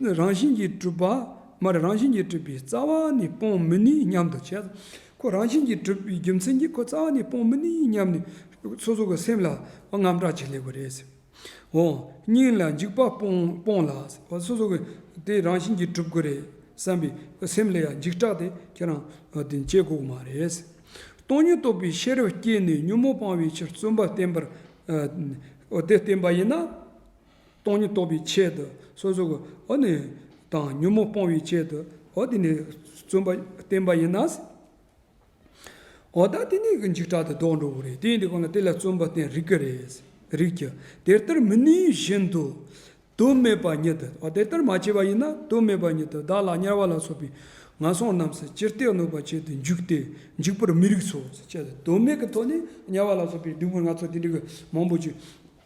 རང་བཞིན་གྱིས་གྲུབ་པ་མ་རེད་རང་བཞིན་གྱིས་གྲུབ་པའི་རྩ་བ་ནི་སྤོང་མི་ནུས་སྙམ་དུ་བྱེད། ཁོ་རང་བཞིན་གྱིས་གྲུབ་པའི་རྒྱུ་མཚན་གྱིས་ཁོ་རྩ་བ་ནི་སྤོང་མི་ནུས་སྙམ་ནས་སོ་སོ་གི་སེམས་ལ་དངངས་སྐྲག་བྱེད་ལེ་བ་རེད། འོ་སྙིང་ལ་འཇིགས་པ་སྤོངས་ལ་སོ་སོ་གི་དེ་རང་བཞིན་གྱིས་གྲུབ་ཀྱི་རེད་བསམ་པའི་སེམས་ལ་ཡང་འཇིགས་སྐྲག་དེ་ཁྱེད་རང་དེ་བྱེད་དགོས་མ་རེད། སྟོང་ཉིད་རྟོགས་པའི་ཤེས་རབ་སྐྱེས་ནས་ཉོན་མོངས་སྤང་བའི་ཕྱིར་བརྩོན་པ་བསྟེན་པར་འོ་དེ་བསྟེན་པ་ཡིན་ན། སྟོང་ཉིད་རྟོགས་པའི་ཆེད་དུ་སོ་སོ་གོ། འོ་ནི། དང་ཉོན་མོངས་སྤོང་བའི་ཆེད་དུ་འོ། འདི་ནི་བརྩོན་པ་བསྟེན་པ་ཡིན་ན། འོ་ད་དེ་ནི་འཇིགས་སྐྲག་དང་ལྡོག་འགྲོ་བོ་རེད་དེ་འདི་གོ་ན་དེ་ལ་བརྩོན་པ་བསྟེན་རིགས་ཀྱི་རེད། རིགས་ཀྱི། དེ་ལྟར་མི་ནུས་བཞིན་དུ། དོན་མེད་པ་ཉིད་དུ་འོ་དེ་ལྟར་མ་བྱས་པ་ཡིན་ན་དོན་མེད་པ་ཉིད་དུ་བདག་ལ་དམྱལ་བ་ལ་སོགས་པའི་ངན་སོང་རྣམས་སུ་ཅི་སྟེ་གནོད་པ་བྱེད་དུ་འཇུག་སྟེ་འཇིགས་པར་མི་རིགས་སོ། དོན་མེད་ཀྱི་དོན་ནི་དམྱལ་བ་ལ་སོགས་པའི་སྡུག་བསྔལ་སྣ་ཚོགས་དེ་འདྲ་གི་མང་པོ་བྱེད།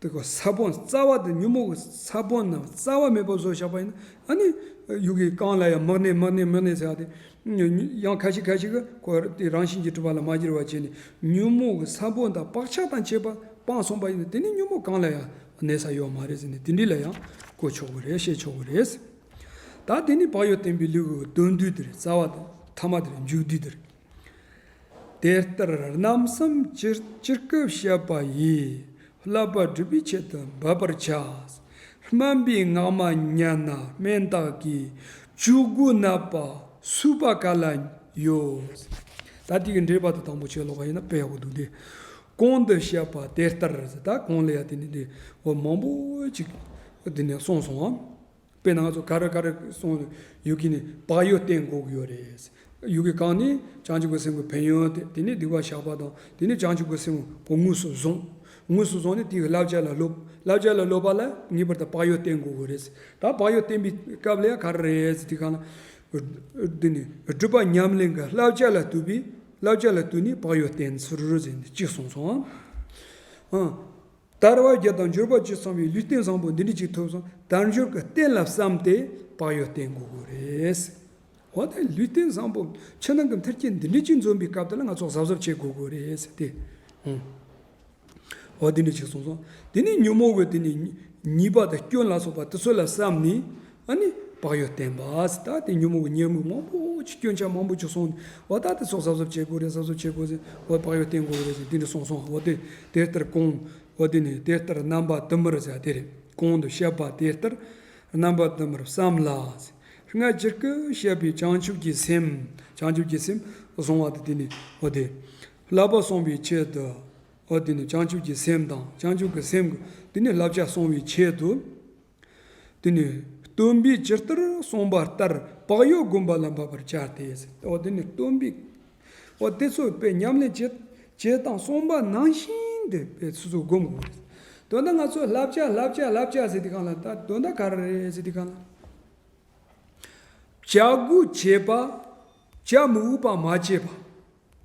དེ་གོ་ས་བོན་རྩ་བ་དེ་ཉོན་མོངས་ཀྱི་ས་བོན་རྣམས་རྩ་བ་མེད་པར་བཟོ་བཞག་པ་ཡིན། ཨ་ནི། ཡུལ་གྱི་གང་ལ་ཡང་མི་གནས་མི་གནས་མི་གནས་ཟེར་བ་དེ། ཡང་ཁ་ཅིག་ཁ་ཅིག་གིས་ཁོ་བོ་དེ་རང་བཞིན་གྱིས་གྲུབ་པ་ལ་མ་གྱུར་བར་བྱས་ནས་ཉོན་མོངས་ཀྱི་ས་བོན་དང་བག་ཆགས་དང་བཅས་པ་སྤངས་གསུངས་པ་ཡིན་ནོ། དེ་ནི་ཉོན་མོངས་གང་ལ་ཡང་གནས་ས་ཡོད་མ་རེད་ཟེར་ནས་དེ་འདྲི་ལ་ཡང་གོ་ཆོག་གི་རེད་བཤད་ཆོག་གི་རེད། ད་དེ་ནི་བག་ཡོད་བསྟན་པའི་ལུགས་ཀྱི་དོན་བསྡུས་འདིར་རྩ་བ་དེ་ཐ་མ་དེར་འཇུག་བསྡུས་འདིར། དེ་ལྟར་རྣམ་གསུམ་སྤྱིར་སྤྱིར་སྐབས་བཤད་པ་ཡིས་བསླབ་པ་སྒྲུབ་པའི་ཆེད་དུ་འབབ་པར་བྱ། སྨན་པའི་སྔགས་མ་ཉན་ན་སྨན་བདག་གིས་བཅུ་དགུ་བསྣབས་པ་བསྲུབ་པ་ག་ལ་ཡོད། ད་ལྟའི་འགྲེལ་པ་དང་དང་པོ་ཆོས་ལོག་པ་ཡིན་ན་པའོ་འདུག་སྟེ། གོང་དུ་བཤད་པ་དེ་ལྟར་ད་གོང་ལ་ཡང་དེ་ནི་འདི་འོ་མང་པོ་ཅིག་འདི་ནས་གསུངས་སོང་ངམ། པའི་ནང་ཚོ་ག་རེ་ག་རེ་སོང་ཡོད་ཀི་ནི་བག་ཡོད་བསྟེན་དགོས་ཀི་ཡོད་རེད། ཡོད་ཀི་གང་ནི་བྱང་ཆུབ་ཀི་སེམས་ཀི་ཕན་ཡོན་དེ་དེ་ནི་སྡིག་པ་བཤགས་པ་དང་དེ་ནི་བྱང་ཆུབ་ཀི་སེམས་ཀི་དངོས་སུ་བཟུང། དངོས་སུ་བཟུང་ནི་དེ་ཡི་བསླབ་བྱ་ལ་སློབ། བསླབ་བྱ་ལ་སློབ་པ་ལ་ངེས་པར་དུ་བག་ཡོད་བསྟེན་དགོས་ཀི་རེད། ད་བག་ཡོད་བསྟེན་པའི་སྐབས་ལ་ག་རེ་རེད་དེ་གང་ལ། དེ་ནི་སྒྲུབ་པ་ཉམས་གླིང་གི་བསླབ་བྱ་ལ་བཏུད་པའི་བསླབ་བྱ་ལ་བཏུད་ནས་བག་ཡོད་བསྟེན་ཚུལ་ཅིག་གསུངས་སོང། དར་བ་བརྒྱ་དང་འབྱོར་པ་བཅུ་ཚང་བའི་ལུས་རྟེན་བཟང་པོ་འདི་འདྲ་ཅིག་ཐོབ་སོང་དལ་འབྱོར་གྱི་རྟེན་ལ་བསམ་སྟེ་བག་ཡོད་བསྟེན་དགོས་དགོས་རེད། འོ་ན་ལུས་རྟེན་བཟང་པོ་ཕྱི་ནང་གི་མཐར་སྐྱེལ་འདི་འདྲ་ཅིག་འཛོམས་པའི་སྐབས་དེ་ལ་ང་ཚོ་གཟབ་གཟབ་བྱེད་དགོས་དགོས་རེད་ཟེར་ཏེ། འོ་འདི་འདྲ་ཅིག་གསུངས་སོང། དེ་ནས་ཉོན་མོངས་པའི་དེ་ནས་ཉེས་པ་དང་སྐྱོན་ལ་སོགས་པ་དེ་ཚོ་ལ་བསམ་ནས་ཨ་ནི་བག་ཡོད་བསྟན་པ་ཟེར་ད་དེ་ཉོན་མོངས་ཀྱི་ཉེར་མིག་མང་པོ་ཅིག་སྐྱོན་ཆ་མང་པོ་ཅིག་སོང་ནས་འོ་ད་དེ་ཚོ་གསབ་གསབ་བྱེད་དགོས་རེད་གསབ་གསབ་བྱེད་དགོས་ཟེར་འོ་བག་ཡོད་བསྟན་དགོས་རེད་ཟེར་དེ་འདྲ་སོང་སོང་འོ་དེ་དེ་ལྟར་དགོངས་འོ་དེ་ནས་དེ་ལྟར་རྣམ་པ་དུ་མར་ཟེར་དེ་རེད་གོང་དུ་བཤད་པ་དེ་ལྟར་རྣམ་པ་དུ་མར་བསམ་ལ་ཟེར་སྔར་སྤྱིར་སྐུ་བཤད་པའི་བྱང་ཆུབ་ཀྱི་སེམས་བྱང་ཆུབ་ཀྱི་སེམས་བཟུང་བ་དང་དེ་ནས་འོ་དེ་བསླབ་པ་སོང་བའི་ཆེད་དུ་འོ་དེ་ནས་བྱང་ཆུབ་ཀྱི་སེམས་དང་བྱང་ཆུབ་ཀྱི་སེམས་དེ་ནས་བསླབ་བྱ་སོང་བའི་ཆེད་དུ། དེ་ནས་སྟོན་པས་ཇི་ལྟར་གསུངས་པ་ལྟར་བག་ཡོད་བསྒོམ་པ་ལ་འབབ་པར་བྱ་སྟེ། དེ་ནས་སྟོན་པས་འོ་དེ་ཚོས་དཔེ་ཉམས་ལེན་བྱེད་ཅེས་དང་གསུངས་པ་ནང་བཞིན་དུ་དཔེ་ཚོས་བསྒོམ་དགོས་ཏེ། དོན་དག་ང་ཚོས་བསླབ་བྱ་བསླབ་བྱ་བསླབ་བྱ་ཟེར་དུས་གང་ལ་ད་དོན་དག་ག་རེ་རེད་ཟེར་དུས་གང་ལ། བྱ་དགོས་བྱེད་པ་བྱ་མི་འོས་པ་མ་བྱས་པ།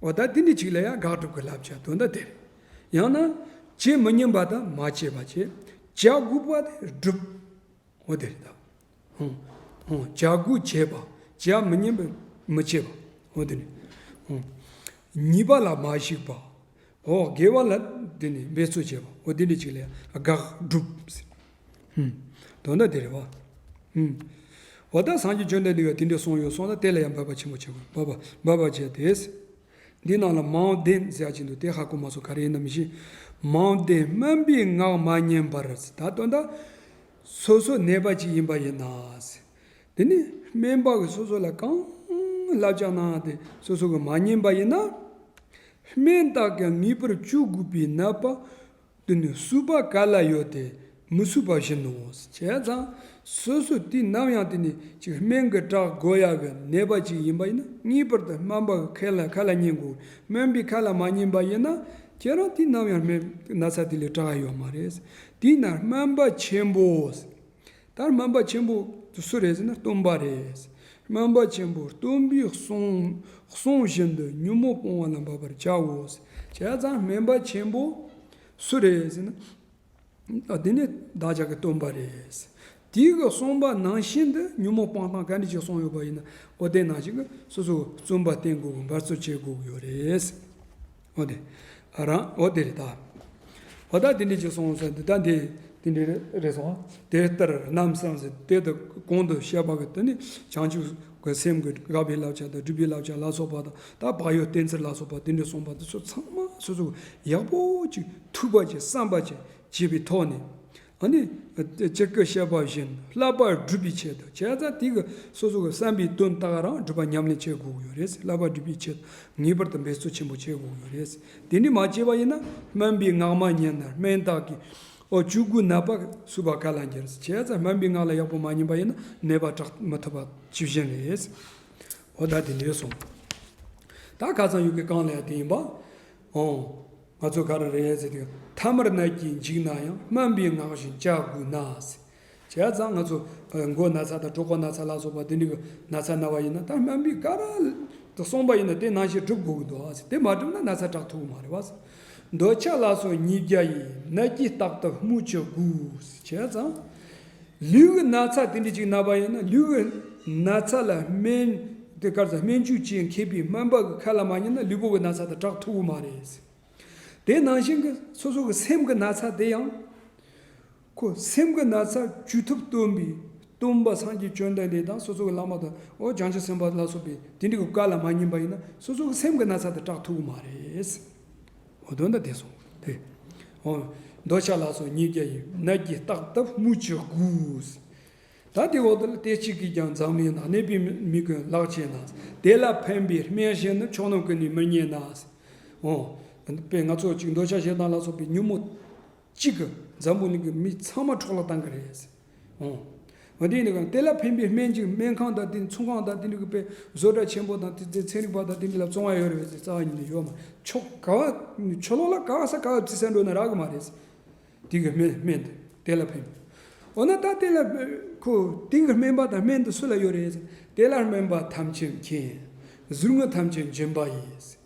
འོ་ད་དེ་འདྲའི་ཅིག་ལ་ཡང་དགག་སྒྲུབ་ཀྱི་བསླབ་བྱ་དོན་དག་དེར། ཡང་ན། བྱེད་མི་ཉན་པ་དང་མ་བྱས་པ་བྱེད། བྱ་དགུ་པ་དེ་སྒྲུབ། འོ་དེར་དག། བྱ་དགུ་བྱས་པ་བྱ་མི་ཉན་པས་མི་བྱེད་པ། འོ་དེ་ནི། གཉིས་པ་ལ་མ་གཞིགས་པ། འོ་དགེ་བ་ལ་འདི་ནི་འབད་རྩོལ་བྱེད་པ་འོ་འདི་འདྲི་ཅིག་ལ་ཡང་དགག་སྒྲུབ། དོན་དག་དེ་རེད། འོ་ད་སངས་རྒྱས་བཅོལ་འདས་འདི་བས་དེ་འདྲི་གསུངས་ཡོད་སོང་ན་དེ་ལ་ཡང་འབད་པ་ཆེན་པོ་བྱེད་དགོས་འབད་པ་འབད་པ་བྱས་ཏེ། འདི་ནང་ལ་མའོ་ཏན་གཟས་ཀྱིན་འདུག་དེ་ཧ་གོ་མ་སོང་ག་རེ་ཡིན་ནམ་ཞེས། མའོ་ཏན་སྨན་པའི་ངག་མ་ཉན་པར། ད་དོན་དག་སོ་སོ་གནས་པ་ཅིག་ཡིན་པ་ཡིན་ན། དེ་ནི་སྨན་པ་གིས་སོ་སོ་ལ་གང་བསླབ་བྱ་གནང་ཡང་དེ་སོ་སོ་གིས་མ་ཉན་པ་ཡིན་ན། སྨན་བཏགས་ཀྱང་ངེས་པར་བཅུག་དགོས་པའི་ན་པ་དེ་ནི་བསུ་བ་ག་ལ་ཡོད་དེ་མི་བསུ་བ་བཞིན་ནོ། བྱས་ཙང་སོ་སོས་དུས་ནམ་ཡང་དེ་ནི་ཅིག་སྨན་གྱི་བྲག་བརྐོ་ཡག་གི་ནད་པ་ཅིག་ཡིན་པ་ཡིན་ན་ངེས་པར་དུ་སྨན་པ་གི་ཁ་ལ་ཁ་ལ་ཉན་དགོས་སྨན་པའི་ཁ་ལ་མ་ཉན་པ་ཡིན་ན་ཁྱེད་རང་དུས་ནམ་ཡང་སྨན་གྱི་ན་ཚ་དེ་ལས་དྲག་ཡོད་མ་རེད། དེས་ན་སྨན་པ་ཆེན་པོ། ལྟར་སྨན་པ་ཆེན་པོ་དུ་སུ་རེད་ཟེར་ན་སྟོན་པ་རེད། སྨན་པ་ཆེན་པོ་སྟོན་པའི་གསུང་གསུང་བཞིན་དུ་ཉོན་མོངས་སྤོང་བ་ལ་འབབ་པར་བྱའོ། བྱས་ཙང་སྨན་པ་ཆེན་པོ་སུ་རེད་ཟེར་ན། དེ་ནི་བདག་ཅག་གི་སྟོན་པ་རེད། དེའི་གི་གསུངས་པ་ནང་བཞིན་དུ་ཉོན་མོངས་སྤང་སྟངས་ག་འདྲི་ཞིག་གསུངས་ཡོད་པ་ཡིན་ན་འོ་དེ་ནང་བཞིན་གྱི་སོ་སོ་བཙུན་པ་བསྟེན་དགོས་དགོས་འབར་རྩོད་བྱེད་དགོས་ཀྱི་ཡོད་རེད། འོ་དེ། རང། འོ་དེ་རེད་ད། བ་ད་དེ་འདྲས་ཅིག་སོང་ཟེར་འདི་ད་དེ། དེ་འདྲས་རེད་སོང་ང། དེ་ལྟར་རྣམ་བསམ་ཟེར་དེ་ལྟར་གོང་དུ་བཤད་པ་གི་དོན་ནི་བྱང་ཆུབ་ཀྱི་སེམས་ཀྱི་དགའ་བའི་བསླབ་བྱ་དང་སྒྲིབ་པའི་བསླབ་བྱ་ལ་སོགས་པ་དང་ད་བག་ཡོད་གཏན་ཚིགས་ལ་སོགས་པ་དེ་འདྲས་གསུངས་པ་འདི་ཚོ་ཚང་མ་སོ་སོ་ཡག་པོ་ཅིག་ཐུབ་པ་ཅིག་བསམ་པ་ཅིག་བྱས་པའི་ཐོག་ནས། ཨཱ་ནི། སྤྱིར་སྐད་བཤད་པ་བཞིན་བསླབ་པར་སྒྲུབ་པའི་ཆེད་དུ་བྱས་ཙང་དེ་གི་སོ་སོ་གི་བསམ་པའི་དོན་དག་རང་སྒྲུབ་པ་ཉམས་ལེན་བྱེད་དགོས་ཀྱི་ཡོད་རེད། བསླབ་པ་སྒྲུབ་པའི་ཆེད་དུ་ངེས་པར་དུ་འབད་རྩོལ་ཆེན་པོ་བྱེད་དགོས་ཀྱི་ཡོད་རེད། དེ་ནི་མ་བྱས་པ་ཡིན་ན་སྨན་པའི་སྔགས་མ་ཉན་ན་སྨན་བདག་གིས་ཨོ་བཅུ་དགུ་ནད་པ་གསོས་པ་ག་ལ་འགྱུར། བྱས་ཙང་སྨན་པའི་སྔགས་ལ་ཡག་པོ་མ་ཉན་པ་ཡིན་ན་ནད་པ་དྲག་མི་ཐུབ་པ་ཇི་བཞིན་རེད། འོ་ད་དེ་འདྲས་སོང། ད་ཁ་ཚང་ཡོད་ཀྱི་རྐང་ལས་དེ་ཡིན་པ། འོང། ང་ཚོ་ག་རེ་རེད་ཟེར་དུས་མཐའ་མར་རྣ་གྱིས་འཇིགས་ན་ཡང་སྨན་པའི་ངག་བཞིན་བཅའ་དགོས་ན་ཟེར། བྱས་ཙང་ང་ཚོ་མགོ་ན་ཚ་དང་གྲོགས་པོ་ན་ཚ་ལག་སོགས་པ་དེ་འདྲའི་གི་ན་ཚ་ན་བ་ཡིན་ན་ད་སྨན་པས་ག་རེ་གསུངས་པ་ཡིན་ན་དེ་ནང་བཞིན་སྒྲུབ་དགོས་ཀྱི་འདུག་ཟེར་དེ་མ་སྒྲུབ་ན་ན་ཚ་དྲག་ཐུབ་ཀྱི་མ་རེད་བ་ཟེར། འདོད་ཆགས་ལགས་སོ་ཉིས་བརྒྱ་ཡིས་རྣ་གྱིས་རྟག་ཏུ་སྨུག་བྱ་དགོས་ཟེར། བྱས་ཙང། ལུས་ཀྱི་ན་ཚ་དེ་འདྲའི་ཅིག་ན་བ་ཡིན་ན་ལུས་ཀྱི་ན་ཚ་ལ་སྨན་དེ་སྐར་ཚ་སྨན་ཆུ་བཅས་མཁས་པའི་སྨན་པ་གི་ཁ་ལ་མ་ཉན་ན་ལུས་པོ་གི་ན་ཚ་དེ་དྲག་ཐུབ་བོ་མ་རེད། དེ་ནང་བཞིན་གྱི་སོ་སོ་གི་སེམས་ཀྱི་ན་ཚ་དེ་ཡང། ཁོ་སེམས་ཀྱི་ན་ཚ་བཅོས་ཐུབ་སྟོན་པའི་སྟོན་པ་སངས་རྒྱས་བཅོན་ལྡན་འདས་དང་སོ་སོ་གི་བླ་མ་དང་ཨོ་རྒྱན་རྒྱལ་སྲིད་སེམས་དཔའ་ལ་སོགས་པའི་དེ་འདྲའི་གི་བཀའ་ལ་མ་ཉན་པ་ཡིན་ན་སོ་སོ་གི་སེམས་ཀྱི་ན་ཚ་དེ་དྲག་ཐུབ་བོ་མ་རེད། འོ་དོན་དང་དེ་སོགས་ཏེ། འོ། འདོད་ཆགས་ལ་སོགས་ཉིས་བརྒྱ་ཡི། ནད་ཀྱིས་བརྟགས་སྟབས་དམུ་ཆོས་དགུས། ད་དེ་འོག་ཏུ་ལ་དེ་གཅིག་གིས་ཀྱང་འཛག་མེད་ན་ནད་པའི་མི་ཀུན་ལག་ཆད་ན། དེ་ལ་ཕན་པའི་སྨན་གཞན་ནི་ཕྱོགས་རྣམས་ཀུན་ནས་མི་རྙེད་ན། འོ། དཔེར་ང་ཚོ་གཅིག་འདོད་ཆགས་ཞེ་སྡང་ལ་སོགས་པའི་ཉོན་མོངས་གཅིག་གིས་འཛམ་བུ་གླིང་གི་མི་ཚང་མ་འཕྲོག་ལ་བཏང་གི་རེད། ཨོ། དེ་ཡིན་ནའང་དེ་ལ་ཕན་པའི་སྨན་གྱི་སྨན་ཁང་དང་དེའི་ཚོང་ཁང་དང་དེ་འདྲ་གི་དཔེ་བཟོ་གྲྭ་ཆེན་པོ་དང་དེ་ཚེ་ཚན་རིག་པ་དང་དེ་འདྲ་ལ་བཙོང་བ་ཡོད་རེད་བས་ཚེ་རྩ་བ་ཉིད་ནས་ཡོད་མ་ཆོག་ག་བ་ཆོ་ལོ་ལ་ག་བ་ས་ག་བ་བརྩི་ས་འགྲོ་ན་རག་གི་མ་རེད། དེ་གི་སྨན་སྨན་དེ་དེ་ལ་ཕན། འོ་ན་ད་དེ་ལ་ཁོ་དེང་གི་སྨན་པ་དང་སྨན་དེ་སུ་ལ་ཡོད་རེད། དེ་ལ་སྨན་པ་ཐམས་ཅད་མཁྱེན། ཟུར་ངོས་ཐམས་ཅད་འཇོན་པ་ཡིན།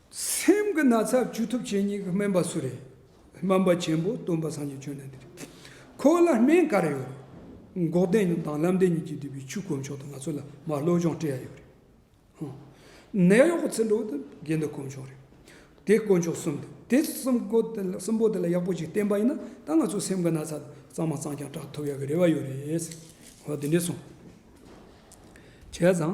སེམས་ཀྱི་ན་ཚ་བཅོས་ཐུབ་བྱེད་ཉིད་ཀྱི་སྨན་པ་སུ་རེད། སྨན་པ་ཆེན་པོ་སྟོན་པ་སངས་རྒྱས་བྱོན་ནི་འདི་རེད། ཁོ་བོ་ལ་སྨན་ག་རེ་ཡོད་རེད། འགོག་བདེན་ཉུང་དང་བསླབ་བདེན་ཉིད་ཀྱིས་བསྡུས་པའི་ཆུ་གོ་མཆོག་དང་ང་ཚོ་ལ་མར་བློ་སྦྱོང་སྤྲད་ཡ་ཡོད་རེད། ནད་གཡོག་གི་ཚིག་འགྲོ་དང་དགེ་འདུན་གོ་མཆོག་རེད། དེ་དཀོན་མཆོག་གསུམ་དང་དེ་གསུམ་པོ་དེ་ལ་ཡག་པོ་ཞིག་བསྟེན་པ་ཡིན་ན་ད་ང་ཚོ་སེམས་ཀྱི་ན་ཚ་གཙང་མ་གཙང་རྐྱང་དྲག་ཐུབ་ཡ་གི་རེ་བ་ཡོད་རེད། ཧོ་དེ་འདྲས་སོང། བྱས་ཙང།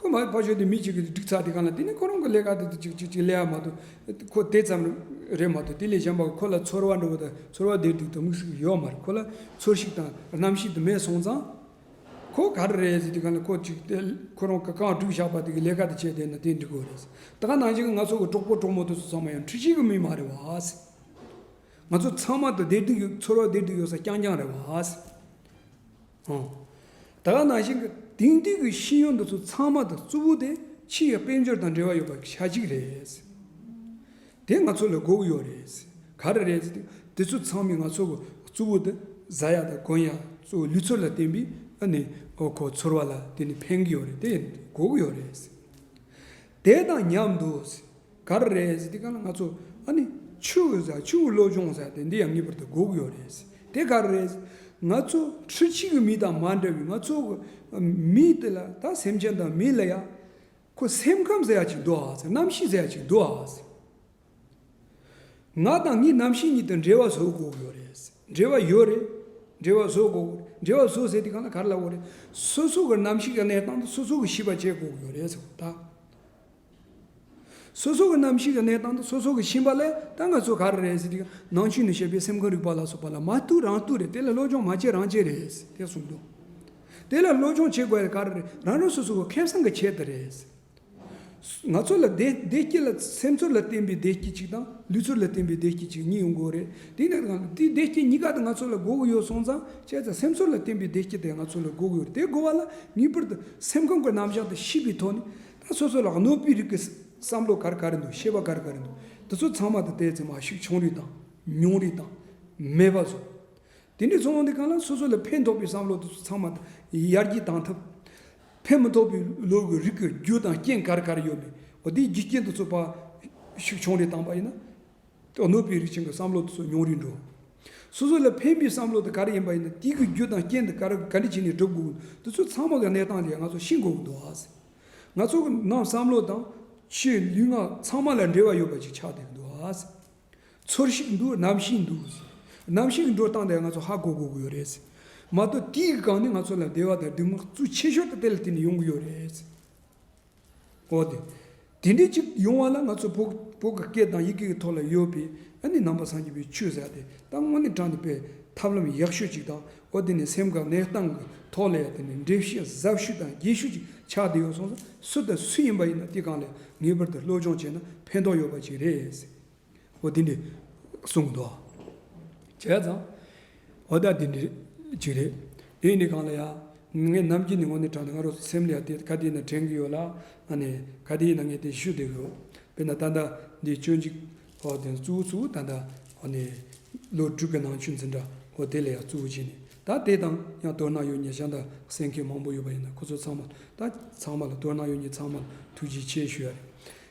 ཁོས་མ་ཕ་ཞོལ་དེ་མི་གཅིག་གིས་འགྲིག་ཚར་དེ་གང་ལ་དེ་ནི་ཁོ་རང་གི་ལས་ཀ་དེ་དང་ཅིག་ཅིག་ཅིག་ལས་ཡག་མ་འདུག་ཁོ་དེ་ཙམ་རེད་མ་གཏོགས་དེ་ལས་གཞན་པ་ཁོ་ལ་ཚོར་བ་འགྲོ་བ་དང་ཚོར་བ་ལྡིར་ལྡིར་དང་མིག་ཟུག་ཟུག་ཡོད་མ་རེད་ཁོ་ལ་ཚོར་ཤིག་དང་རྣམ་ཤེས་དེ་མེད་སོང་ཙང། ཁོ་ག་རེ་རེད་ཟེར་དེ་གང་ལ་ཁོ་ཅིག་དེ་ཁོ་རང་གི་གངས་བྲུག་ཞགས་པ་དེ་གི་ལས་ཀ་དེ་བྱས་བསྡད་ན་དེ་འགྲིག་གི་རེད། ད་ག་ནང་བཞིན་ང་ཚོ་གི་གྲོགས་པོ་གྲོགས་མོ་དེ་ཚོ་ཚང་མ་ཡང་འཁྲི་ཤིང་གི་མི་མ་རེད་བ། ང་ཚོ་ཚང་མ་དང་བསྡད་འདུག་ཡོད་ཚོར་བ་ལྡིར་ལྡིར་ཡོད་ས་རྐྱང་རྐྱང་རེད་བ། ཨང། ད་ལ་ནང་བཞིན་དེང་དུས་ཀྱི་ཤེས་ཡོན་འདི་ཚོ་ཚང་མ་དང་རྩུབ་བོ་དེ་ཕྱི་ཡི་དཔལ་འབྱོར་དང་འབྲེལ་བ་ཡོད་པ་ཞག་གཅིག་རེད། དེ་ང་ཚོ་ལ་དགོས་ཀྱི་ཡོད་རེད། ག་རེ་རེད་ཟེར་དུས་དེ་ཚོ་ཚང་མས་ང་ཚོ་གི་རྩུབ་བོ་དེ་བཟའ་ཡག་དང་གོན་ཡག་གཙོ་བོ་ལུས་ཚོར་ལ་བརྟེན་པའི་ཨ་ནི་ཁོ་ཚོར་བ་ལ་དེ་ནི་ཕན་གྱི་ཡོད་རེད་དེ་དགོས་ཀྱི་ཡོད་རེད། དེ་དང་མཉམ་དུ། ག་རེ་རེད་ཟེར་དེ་ག་ལ་ང་ཚོ་ཨ་ནི་ཆུ་བོ་ཟ་ཆུ་བོ་བློ་སྦྱོང་ཟ་དེ་འདི་ཡང་ངེས་པར་དུ་སྒུག་ཡོད་རེད་ཟེར་དེ་ག་རེ་རེད་ཟེར་ང་ཚོ་ཁྲི་གཅིག་གི་མི་དང་མ་འདྲ་བའི་ང་ཚོ་གི་མི་དེ་ལ་ད་སེམས་ཅན་དང་མི་ལ་ཡ་ཁོ་སེམས་ཁམས་ཟེར་ཡ་གཅིག་འདུག་ཨ་ཟེར་རྣམ་ཤེས་ཟེར་ཡ་གཅིག་འདུག་ཨ་ཟེར། ང་དང་ངའི་རྣམ་ཤེས་གཉིས་དང་འབྲེལ་བ་བཟོ་དགོས་ཡོད་རེད་ཟེར་འབྲེལ་བ་ཡོད་རེད་འབྲེལ་བ་བཟོ་དགོས་རེད་འབྲེལ་བ་བཟོ་ཟེར་དེ་ག་ལ་ག་རེ་ལ་འོ་རེད་སོ་སོ་གི་རྣམ་ཤེས་ཀྱི་གནས་སྟངས་དེ་སོ་སོ་གི་ཤེས་པ་བྱེད་དགོས་ཡོད་རེད་ཟེར་བ་ད། སོ་སོ་གི་རྣམ་ཤེས་ཀྱི་གནས་སྟངས་དང་སོ་སོ་གི་ཕྱིན་པ་ལས་ད་ང་ཚོ་ག་རེ་རེད་ཟེར་དུས་ནང་ཆོས་ནས་བཤད་པའི་སེམས་ཁམས་རིག་པ་ལ་སོགས་པ་ལ་མ་ལྟོས་རང་ལྟོས་རེད་དེ་ལ་བློ་སྦྱོང་མ་བྱེད་རང་བྱེད་རེད་དེ་གསུངས་འདུག་དེ་ལ་བློ་སྦྱོང་བྱེད་དགོས་ཡ་ག་རེ་རེད་རང་རང་སོ་སོ་གི་ཁེ་བཟང་གི་ཆེད་དུ་རེད། ང་ཚོ་ལ་བདེ་སྐྱིད་ལ་སེམས་ཚོར་ལ་བརྟེན་པའི་བདེ་སྐྱིད་ཅིག་དང་ལུས་ཚོར་ལ་བརྟེན་པའི་བདེ་སྐྱིད་ཅིག་གཉིས་ཡོང་དགོས་རེད་དེ་ནས་དང་དེ་བདེ་སྐྱིད་གཉིས་ཀ་དེ་ང་ཚོ་ལ་དགོས་ཀྱི་ཡོད་སོང་ཙང་བྱས་ཙང་སེམས་ཚོར་ལ་བརྟེན་པའི་བདེ་སྐྱིད་དེ་ང་ཚོ་ལ་དགོས་ཀྱི་ཡོད་རེད་དེ་དགོས་པ་ལ་ངེས་པར་དུ་སེམས་ཁམས་ཀྱི་རྣམ་གཞག་དང་གཤིས་པའི་ཐོག་ནས་ད་སོ་སོ་ལ་གནོད་སྤུའི་རིགས་ཀྱི་བསམ་བློ་ག་རེ་ག་རེ་འདུག་ཤེས་པ་ག་རེ་ག་རེ་འདུག་འདི་ཚོ་ཚང་མ་དང་བལྟས་ཚེ་མ་ཤུགས་ཆུང་རིགས་དང་ཉུང་རིགས་དང་མེད་པ་བཟོ། དེ་འདྲའི་ཚོང་བ་འདི་ག་ལ་སོ་སོ་ལ་ཕན་ཐོགས་པའི་བསམ་བློ་འདི་ཚོ་ཚང་མ་དང་ཡར་རྒྱས་བཏང་ཐབས། ཕན་མི་ཐོགས་པའི་བློ་གི་རིགས་ཀྱི་རྒྱུ་དང་རྐྱེན་ག་རེ་ག་རེ་ཡོད་མེད་འོ་དེའི་རྒྱུ་རྐྱེན་འདི་ཚོ་པ་ཤུགས་ཆུང་རིགས་བཏང་པ་ཡིན་ན། སྐྱོ་ནུབ་པའི་རིགས་ཆེན་གྱི་བསམ་བློ་དེ་ཚོ་མྱོང་རིན་འགྲོ། སོ་སོ་ལ་ཕན་པའི་བསམ་བློ་དེ་ག་རེ་ཡིན་པ་ཡིན་ན་དེ་གི་རྒྱུ་དང་རྐྱེན་དེ་ག་རེ་ག་འདྲི་བྱས་ནས་སྒྲུབ་དགོས་དེ་ཚོ་ཚང་མ་གི་གནས་སྟངས་དེ་ང་ཚོ་ཤེས་དགོས་འདུག་ཨ་ཟེར། ང་ཚོ་གི་ནང་བསམ་བློ་དང། ཆོས་ལུས་ངག་ཚང་མ་ལ་འབྲེལ་བ་ཡོད་པ་ཅིག་ཆགས་བསྡད་འདུག་ཨ་ཟེར། ཚོར་ཤིག་འདུག་ནམ་ཤེས་འདུག་ཟེར། ནམ་ཤེས་ཀྱི་འགྲོ་སྟངས་དེ་ང་ཚོ་ཧ་གོ་དགོས་ཀྱི་ཡོད་རེད་ཟེར། མ་གཏོགས་དེའི་སྒང་ནས་ང་ཚོ་ལ་བདེ་བ་དང་སྡུག་བསྔལ་གཙོས་ཆེ་ཤོས་དེ་དེ་ལ་བརྟེན་ནས་ཡོང་གི་ཡོད་རེད་ཟེར། འོ་དེ་དེ་འདྲའི་ཅིག་ཡོང་བ་ལ་ང་ཚོ་བོད་ཀྱི་སྐད་དང་ཡི་གེ་ཀྱི་ཐོག་ལ་ཡོད་པའི་ཨ་ནི་ནང་པ་སངས་རྒྱས་པའི་ཆོས་ཟེར་དེ་ད་དངོས་གནས་དྲངས་ཏེ་སྤེལ་ཐབས་ལམ་ཡག་ཤོས་ཅིག་དང་འོ་དེ་ནས་སེམས་ཁ་གནས་སྟངས་ཀྱི་ཐོག་ལ་ཡ་དེ་ནས་འགྲེལ་བཤད་ཟབ་ཞུས་དང་རྒྱས་ཞུས་ཅིག་ཆགས་བསྡད་ཡོད་སོང་ཟིག་སུ་དང་སུ་ཡིན་པ་ཡིན་ན་དེ་གང་ལས་ངེས་པར་དུ་སློབ་སྦྱོང་བྱས་ན་ཕན་ཐོགས་ཡོད་པ་ཅིག་རེད། ཨོ་དེ་འདྲས་གསུངས་གི་འདུག་བྱས་ཙང། ཨོ་ད་དེ་འདྲས་ཅིག་རེད། དེ་ནི་གང་ལ་ཡ། ངས་ནམ་རྒྱུན་ནས་ངོ་ནས་དྲང་ནས་ང་རོ་སེམས་ལ་ཡ་དེ་ག་དེའི་ནང་དྲན་གི་ཡོད་ལ། ཨ་ནས་ག་དེའི་ནང་ངས་དེ་ཞུ་བསྡད་གི་ཡོད། དཔེར་ན་ད་ལྟ་འདི་སྤྱོད་འཇུག་ཨོ་དེ་གཙུག་གཙུག་ད་ད་ཨོ་ནས། ལོ་དྲུག་གི་ནང་ཆུ་འཛིན་འདྲ་ཨོ་དེ་ལ་ཡ་གཙུག་བྱས་ནས་ད་དེ་དང་ཡང་དོ་སྣང་ཡོད་ཉེ་བྱ་འདྲ་སེམས་མཁན་མང་པོ་ཡོད་པ་ཡིན་ན་ཁོ་ཚོ་ཚང་མ་ད་ཚང་མ་ལ་དོ་སྣང་ཡོད་ཉེ་ཚང་མ་ལ་ཐུགས་རྗེ་ཆེ་ཞུ་ཡ་རེད།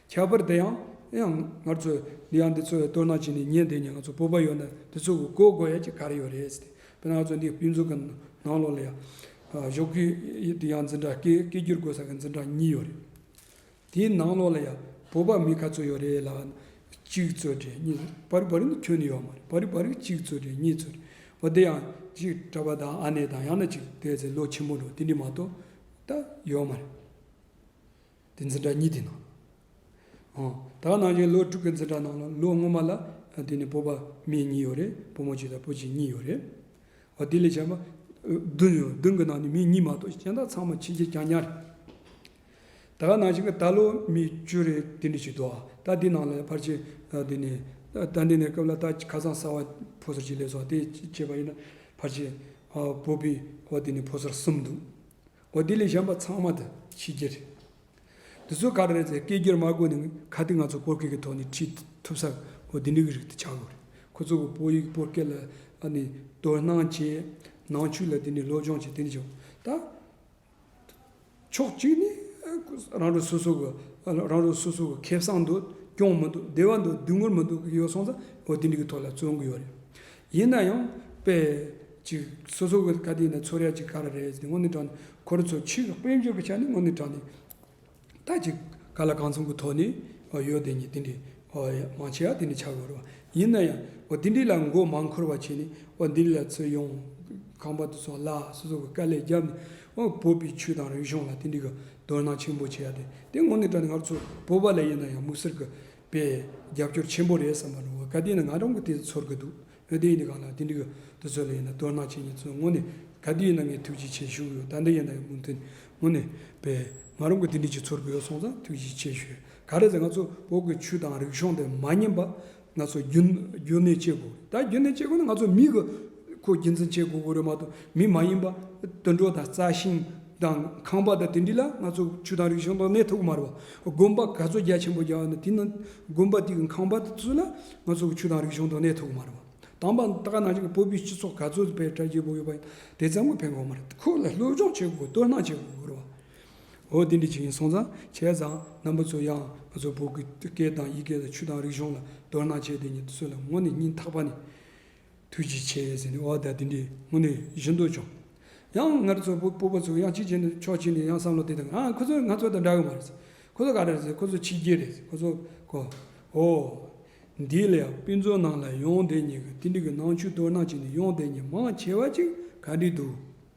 ཁྱད་པར་དེ་ཡང་ཡང་ངར་ཚོས་འདི་ཡང་འདི་ཚོས་སྟོད་ནག་ཅིག་ནས་ཉན་དེ་ཉིན་ང་ཚོ་སྤོབས་པ་ཡོད་ན་དེ་ཚོ་གི་གོ་དགོས་ཡ་གྱི་ག་རེ་ཡོད་རེད་ཟེར་ཏེ་ང་ཚོ་འདི་སྤུས་འཛུགས་ཀྱི་ནང་ལོག་ལ་ཡ་ཞོག་གི་འདི་ཡང་འཛིན་གྲྭ་སྐད་སྐད་སྒྱུར་དགོས་ས་གི་འཛིན་གྲྭ་གཉིས་ཡོད་རེད་དེའི་ནང་ལོག་ལ་ཡ་བོད་པ་མི་ག་ཚོད་ཡོད་རེད་ལ་གཅིག་ཚོད་དྲན་གཉིས་ཚོད་བ་རི་བ་རི་ནི་ཁྱོན་ནི་ཡོད་མ་རེད་བ་རི་བ་རི་གཅིག་ཚོད་དྲན་གཉིས་ཚོད་རེད་བ་དེ་ཡང་གཅིག་གྲྭ་པ་དང་ཨ་ནེ་དང་ཡང་ན་གཅིག་དེ་ཚོ་ལོ་ཆེན་པོ་འགྲོ་དེ་འདྲི་མ་གཏོགས་ད་ཡོད་མ་རེད། དེ་འཛིན་གྲྭ་གཉིས་དེ་ནང་ལོ། ད་ནང་བཞིན་ལོ་དྲུག་གི་འཛིན་གྲྭ་ནང་ལོ་ལོ་སྔོན་མ་ལ་དེ་ནས་སྤོབས་པ་མི་གཉིས་ཡོད་རེད་སྤོ་མོ་ཆེ་དང་སྤོ་ཆེ་གཉིས་ཡོད་རེད། བ་དེ་ལས་བྱམས་པ་བདུན་ཡོད་བདུན་གི་ནང་ནས་མི་གཉིས་མ་གཏོགས་གཞན་དག་ཚང་མ་ཕྱི་རྒྱལ་གྱང་ཉག་རེད། ད་ནང་བཞིན་གྱི་ད་ལོ་མི་བཅུ་རེ་དེ་འདྲ་ཞིག་འདུག་ད་དེ་ནང་ལ་ཕར་ཆེར་དེ་ནས་ད་འདི་ནས་སྐབས་ལ་ད་ཁ་སང་གསར་བ་ཕོ་སར་གཅིག་སླེབས་སོང་དེ་བྱས་པ་ཡིན་ན་ཕར་ཆེར་སྤོ་པི་བ་དེ་ནས་ཕོ་སར་གསུམ་འདུག་ཨོ་དེ་ལས་གཞན་པ་ཚང་མ་དུ་ཤེས་ཀྱི་རེད། དེ་ཚོ་ག་རེ་རེད་ཟེར་སྐད་སྒྱུར་མ་དགོས་ནི་ག་དུས་ང་ཚོ་སྤོར་སྐད་ཀྱི་ཐོག་ནས་ཁྲིད་ཐུབ་ས་ཨོ་དེ་འདྲ་གི་རིགས་དུ་ཆ་དགོས་རེད། ཁོ་ཚོ་གི་སྤོ་ཡིག་སྤོར་སྐད་ལ་ནི་དོ་སྣང་བྱེད། ནང་ཆོས་ལ་དེ་ནས་སློབ་སྦྱོང་བྱེད་དེ་འདྲ་བྱུང་ད། ཕྱོགས་གཅིག་ནི་རང་རེ་སོ་སོ་གི་རང་རེ་སོ་སོ་གི་ཁེ་བཟང་འདུག་སྐྱོང་མི་འདུག་བདེ་བ་འདུག་སྡུག་བསྔལ་མི་འདུག་གི་ཡོད་སོང་ཙང་ཨོ་དེ་འདྲ་གི་ཐོག་ལ་བརྩོན་གི་ཡོད་རེད། ཡིན་ན་ཡང། དཔེ། གཅིག། སོ་སོ་ཀི་ཀ་དེ་ནི་ཚོར་ཡ་གཅིག་ག་ར་རེད་ཟེར་ཏེ་དངོས་གནས་དྲང་ནས་ཁོ་ར་ཚོ་ཕྱིར་དཔལ་འབྱོར་གི་ཆ་ནས་དངོས་གནས་དྲང་ནས། ད་ཅི་ག་ལ་གང་མཚུངས་ཀི་ཐོག་ནས་ཨོ་ཡོད་དེ་ཉིད་དེ་འདྲའི་ཨོ་ཡ་མང་ཆེ་བ་དེ་འདྲའི་ཆགས་དགོས་རོགས། ཡིན་ན་ཡང། ཨོ་དེ་འདྲའི་ལ་མགོ་མང་འཁོར་བ་བྱས་ནས་ཨོ་འདི་འདྲའི་ལ་ཚོས་ཡོང། ཁང་པ་དེ་ཚོ་གླ་སོ་སོ་ཀི་ཀ་ལས་རྒྱབ་ནས་ཨོ་བོད་པའི་ཆོས་དང་རིག་གཞུང་ལ་དེ་འདྲའི་ཀི་དོ་སྣང་ཆེན་པོ་བྱས་ཡ་དེ་དེ་དངོས་གནས་དྲང་ནས་ང་ར་ཚོ་བོད་པ་ལ་ཡིན་ན་ཡང་དམིགས་བསལ་ཀི་པས་རྒྱབ་སྐྱོར་ཆེན་པོ་རེད་བསམ་པ་རུང་བ་ག་དུས་ནས་ང་རང་གི་དེ་ཚོར་གི་འདུག་ཨ་དེ་ཡིན་ན་གང་ལ་དེ་འགྲིག་གི་འདུག་ཚོད་ལ་ཡིན་ན་སྟོད་དམག་ཁྱེད་གཉིས་ཚོའི་ངོ་ནས་ག་དུས་ཡིན་ན་ངས་ཐུགས་རྗེ་ཆེ་ཞུ་གི་ཡོད་ད་འདི་ཡིན་ན་ཡང་མུ་མཐུན་ངོ་ནས་པས་ང་རང་གི་དེ་འགྲིག་གི་ཚོར་གི་ཡོད་སོང་ཙང་ཐུགས་རྗེ་ཆེ་ཞུ་ག་རེད་ཟེར་ང་ཚོ་བོད་གི་ཆུ་དང་རིག་གཞུང་དེ་མ་ཉམས་པ་ང་ཚོ་རྒྱུན་གནས་བྱེད་དགོས་ད་རྒྱུན་གནས་བྱེད་དགོས་ན་ང་ཚོ་མི་གི། ཁོའི་རྒྱུ་མཚན་ཆེ་གོ་གོ་རུ་མ་གཏོགས་མི་མ་ཡིན་པ། དུད་འགྲོ་དང་རྩྭ་ཤིང་དང་ཁང་པ་དང་དེ་འདྲི་ལ་ང་ཚོ་ཆུ་དང་རིག་གཞུང་དང་ནས་ཐུག་མར་བ་དགོན་པ་ག་ཚོད་རྒྱ་ཆེན་པོ་རྒྱག་ན་དེ་ནང་དགོན་པ་དེ་གི་ཁང་པ་ཚུ་ལ་ང་ཚོ་ཆུ་དང་རིག་གཞུང་དང་ནས་ཐུག་མར་བ་དང་པ་ད་ག་ནང་བཞིན་བོད་པའི་སྤྱི་ཚོགས་ག་ཚོད་བེད་སྤྲད་བྱེད་དགོ་ཡོད་པ་ཡིན་དེ་ཙམ་གོ་ཕན་གོ་མ་རེད་ཁོ་ལ་སློབ་སྦྱོང་བྱེད་དགོ་དོ་སྣང་བྱེད་དགོ་རུ་བ་འོ་དེ་འདྲི་བྱེད་ཡིན་སོང་ཙང་བྱས་ཙང་རྣམ་པ་ཚོ་ཡང་ང་ཚོ་བོད་སྐད་དང་ཡིག་སྐད་དང་ཆུ་དང་རིག་གཞུང་ལ་དོ་སྣང་བྱེད་དེ་ཉིད་ཚུ་ལ་ངོ་ནས་སྙིང་ཐག་པ་ནས། དུས་ཀྱི་ཆས་ཟིན་ནས་འོག་ཟླ་དེ་འདྲའི་སྔོན་ནས་བཞུད་འདུག་ཀྱང། ཡང་སྔར་ཚོ་བུ་སྤོབས་པ་ཚོ་ཡང་གཅིག་བྱས་ནས་ཆོག་ཕྱིན་ནས་ཡང་བསམ་བློ་དེ་དང་ཨ་ཁོ་ཚོ་ང་ཚོ་དང་འདྲ་གི་མ་རེད། ཁོ་ཚོ་ག་རེ་རེད་ཟེར་ཁོ་ཚོ་ཕྱི་རྒྱལ་རེད་ཟེར་ཁོ་ཚོ་གོ། ཧོ། འདི་ལ་ཡང་དཔེ་མཛོད་ནང་ལ་ཡོང་བསྡད་ཉེས་ཀྱི་ཏིལ་འབྲུ་གི་ནང་ཆུ་གཏོར་སྣང་བྱས་ནས་ཡོང་བསྡད་ཉེས་མང་ཆེ་བ་ཅིག་ག་འདྲི་འདུག།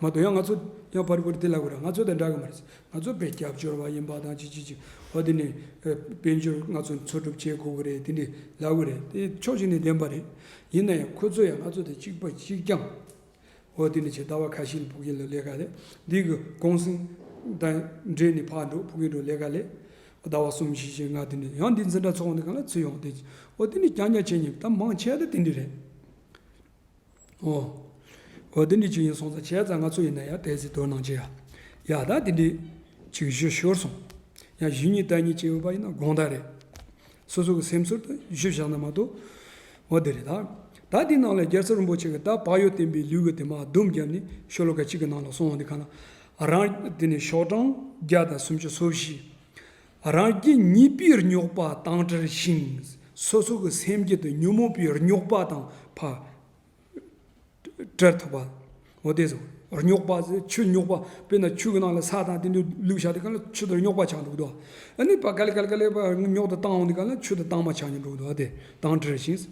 མ་དོ་ཡང་ང་ཚོ་ཡང་པར་བརྐོ་རི་དེ་ལ་དགོས་ར་ང་ཚོ་དང་འདྲ་གི་མ་རེད། ང་ཚོ་བོད་སྐྱབས་བཅོལ་བ་ཡིན་པ་དང་ཅི་ཅི་ཅི་བ་དེ་ནས་དཔལ་འབྱོར་ང་ཚོ་འཚོ་སྒྲུབ་བྱེད་དགོས་གི་རེད་དེ་འདྲི་ལ་དགོས་རེད་དེ་ཕྱོགས་གཅིག་ནས་བདེན་པ་རེད། ཡིན་ན་ཡང་ཁོ་ཚོ་ཡང་ང་ཚོ་དང་གཅིག་པ་གཅིག་རྐྱང་བོ་དེ་ནས་བྱས་ཟླ་བ་ཁ་ཤིག་ལ་ཕུགས་ཀྱི་ལོ་ལས་ཀ་ལས་འདི་གི་གུང་སེང་དང་འབྲེལ་ནས་ཕར་འགྲོ་ཕུགས་ཀྱི་འགྲོ་ལས་ཀ་ལས་ཟླ་བ་གསུམ་བཞི་ཆའི་ང་དེ་ནས་ཡང་འདི་འཛིན་གྲྭ་ཚོགས་ནས་གང་ལ་ཚུད་ཡོང་དེ་བོ་དེ་ནས་རྐྱང་རྐྱང་བྱས་ཉིན་ད་མང་ཆེ་ད་དེ་འདྲི་རེད། ཨོ། ཨོ་དེ་འདྲའི་ཅིག་ཡིན་སོང་ཙང་བྱས་ཙང་ང་ཚོ་ཡིན་ན་ཡང་དེ་ཟིག་དོར་གནང་གྱི། ཡ་ད་དེ་འདྲའི་ཅིག་བཞུ་ཤོར་སོང། ཡང་བཞུ་གཉིས་ད་གཉིས་བྱས་ཡོད་པ་ཡིན་ན་དགོངས་དག་རེད། སོ་སོ་གི་སེམས་ཚོར་དུ་བཞུ་བཞག་ན་མ་གཏོགས། ཨོ་དེ་རེད་ད། ད་དེའི་ནང་ལ་རྒྱལ་ཚབ་རིན་པོ་ཆེ་གི་ད་བག་ཡོད་བསྟན་པའི་ལུས་གི་དེ་མ་བསྡུམས་བརྒྱབ་ནས་ཤོ་ལོ་ཀ་གཅིག་གི་ནང་ལ་སོང་བ་འདི་ག་ན་རང། དེ་ནས་ཤོག་གྲངས་བརྒྱ་དང་སུམ་ཅུ་སོ་བཞི། རང་རྒྱུད་གཉིས་པའི་རྙོག་པ་དང་བྲལ་ཞིང་སོ་སོ་གི་སེམས་རྒྱུད་དུ་ཉོན་མོངས་པའི་རྙོག་པ་དང་བྲལ་ཐུབ་པ། འོ་དེས་སོ། རྙོག་པ་ཟེར་ཆུ་རྙོག་པ་དཔེར་ན་ཆུ་གི་ནང་ལ་ས་དང་དེ་འདྲའི་ལུག་བཞག་དེ་ག་ལ་ཆུ་དེར་རྙོག་པ་ཆགས་འགྲོ་གི་འདུག་ཨ་ནི་བ་ག་ལི་ག་ལི་ག་ལི་བ་རྙོག་དུ་བཏང་འོང་དེ་ག་ལ་ཆུ་དེ་བཏང་མ་ཆགས་ཉོན་འགྲོ་གི་འདུག་ཨ་དེ་དང་བྲལ་ཞིང།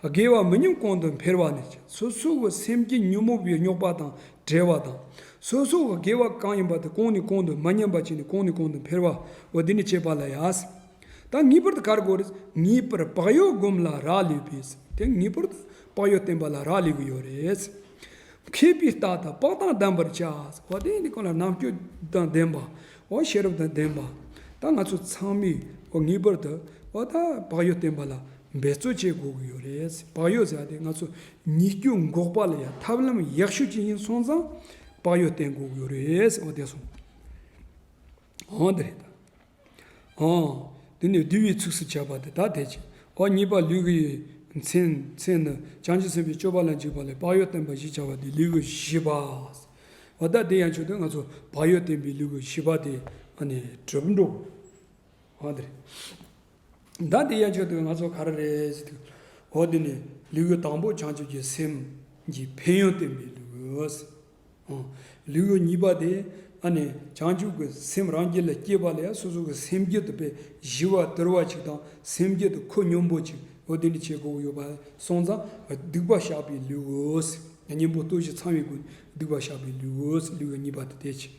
དགེ་བ་མི་ཉུང་གོང་དུ་འཕེལ་བ་ནི་སོ་སོ་གི་སེམས་རྒྱུད་ཉོན་མོངས་པའི་རྙོག་པ་དང་བྲལ་བ་དང། སོ་སོའ་དགེ་བ་གང་ཡིན་པ་དེ་གང་ནས་གང་དུ་མ་ཉམས་པ་བྱས་ནས་གང་ནས་གང་དུ་འཕེལ་བའོ་དེ་ནི་བྱེད་པ་ལ་ཡཱས། དང་ངེས་པར་དུ་གར་དགོས་རེད། ངེས་པར་བག་ཡོད་བསྒོམ་ལ་རག་ལས་པས་དེ་ངེས་པར་དུ་བག་ཡོད་བསྟེན་པ་ལ་རག་ལས་གི་ཡོད་རེད། མཁས་པའི་རྟགས་དང་དཔག་དང་གདམས་པར་བྱའོ་དེ་ནི་གང་ལ་རྣམ་དཔྱོད་དང་ལྡན་པའོ་ཤེས་རབ་དང་ལྡན་པའོ་ད་ང་ཚོ་ཚང་མས་ངེས་པར་དུའོ་ད་བག་ཡོད་བསྟེན་པ་ལ་འབད་རྩོལ་བྱེད་དགོས་ཀྱི་ཡོད་རེད། བག་ཡོད་བཟའ་དེ་ང་ཚོ་ཉིས་བརྒྱུད་འགོག་པ་ལ་ཡང་ཐབས་ལམ་ཡག་ཤོས་ཅི་ཡིན་སོང་ཙང་བག་ཡོད་བསྟེན་དགོས་ཀྱི་ཡོད་རེད་འོ་དེ་སོང། འོ་དེ་རེད་ད། འོ་དེ་ནས་བསྡུ་བའི་ཚུགས་སུ་བྱ་བ་དེ་ད་དེ་བྱས། འོ་གཉིས་པ་ལུས་ཀྱི་མཚན་མཚན་ནི་བྱང་ཆུབ་སེམས་དཔའི་སྤྱོད་པ་ལ་འཇུག་པ་ལས་བག་ཡོད་བསྟེན་པ་བཞི་བྱ་བ་དེ་ལུས་ཀྱི་བཞི་པ། འོ་ད་དེ་ཡང་བྱུང་དུས་ང་ཚོ་བག་ཡོད་བསྟེན་པའི་ལུས་ཀྱི་བཞི་པ་དེ་ཨ་ནི་གྲུབ་འགྲོ། འོ་དེ་རེད། བདག་འདི་ཡ་ཆོད་དུ་ང་ཚོ་ག་རེ་རེད། འོ་དེ་ནི་ལུས་ཡོད་དང་པོ་བྱང་ཆུབ་ཀྱི་སེམས་ཀྱི་ཕན་ཡོན་བསྟན་པའི་ལུས། ལུས་ཡོད་གཉིས་པ་དེ་ཨ་ནི་བྱང་ཆུབ་ཀྱི་སེམས་རང་རྒྱུད་ལ་སྐྱེས་པ་ལས་སོ་སོ་ཀྱི་སེམས་རྒྱུད་དུ་པའི་བཞི་བ་དིར་བ་གཅིག་དང་སེམས་རྒྱུད་དུ་ཁུ་སྙོམས་པོ་གཅིག་འོ་དེ་ནི་ཆེས་གོ་བོ་ཡོད་པ་སོང་ཙང་སྡིག་པ་བཤགས་པའི་ལུས། གཉེན་པོ་ལྟོས་ཤིག་ཚང་བའི་སྒོ་ནས་སྡིག་པ་བཤགས་པའི་ལུས། ལུས་ཡོད་གཉིས་པ་དེ་དེ་ཕྱིར།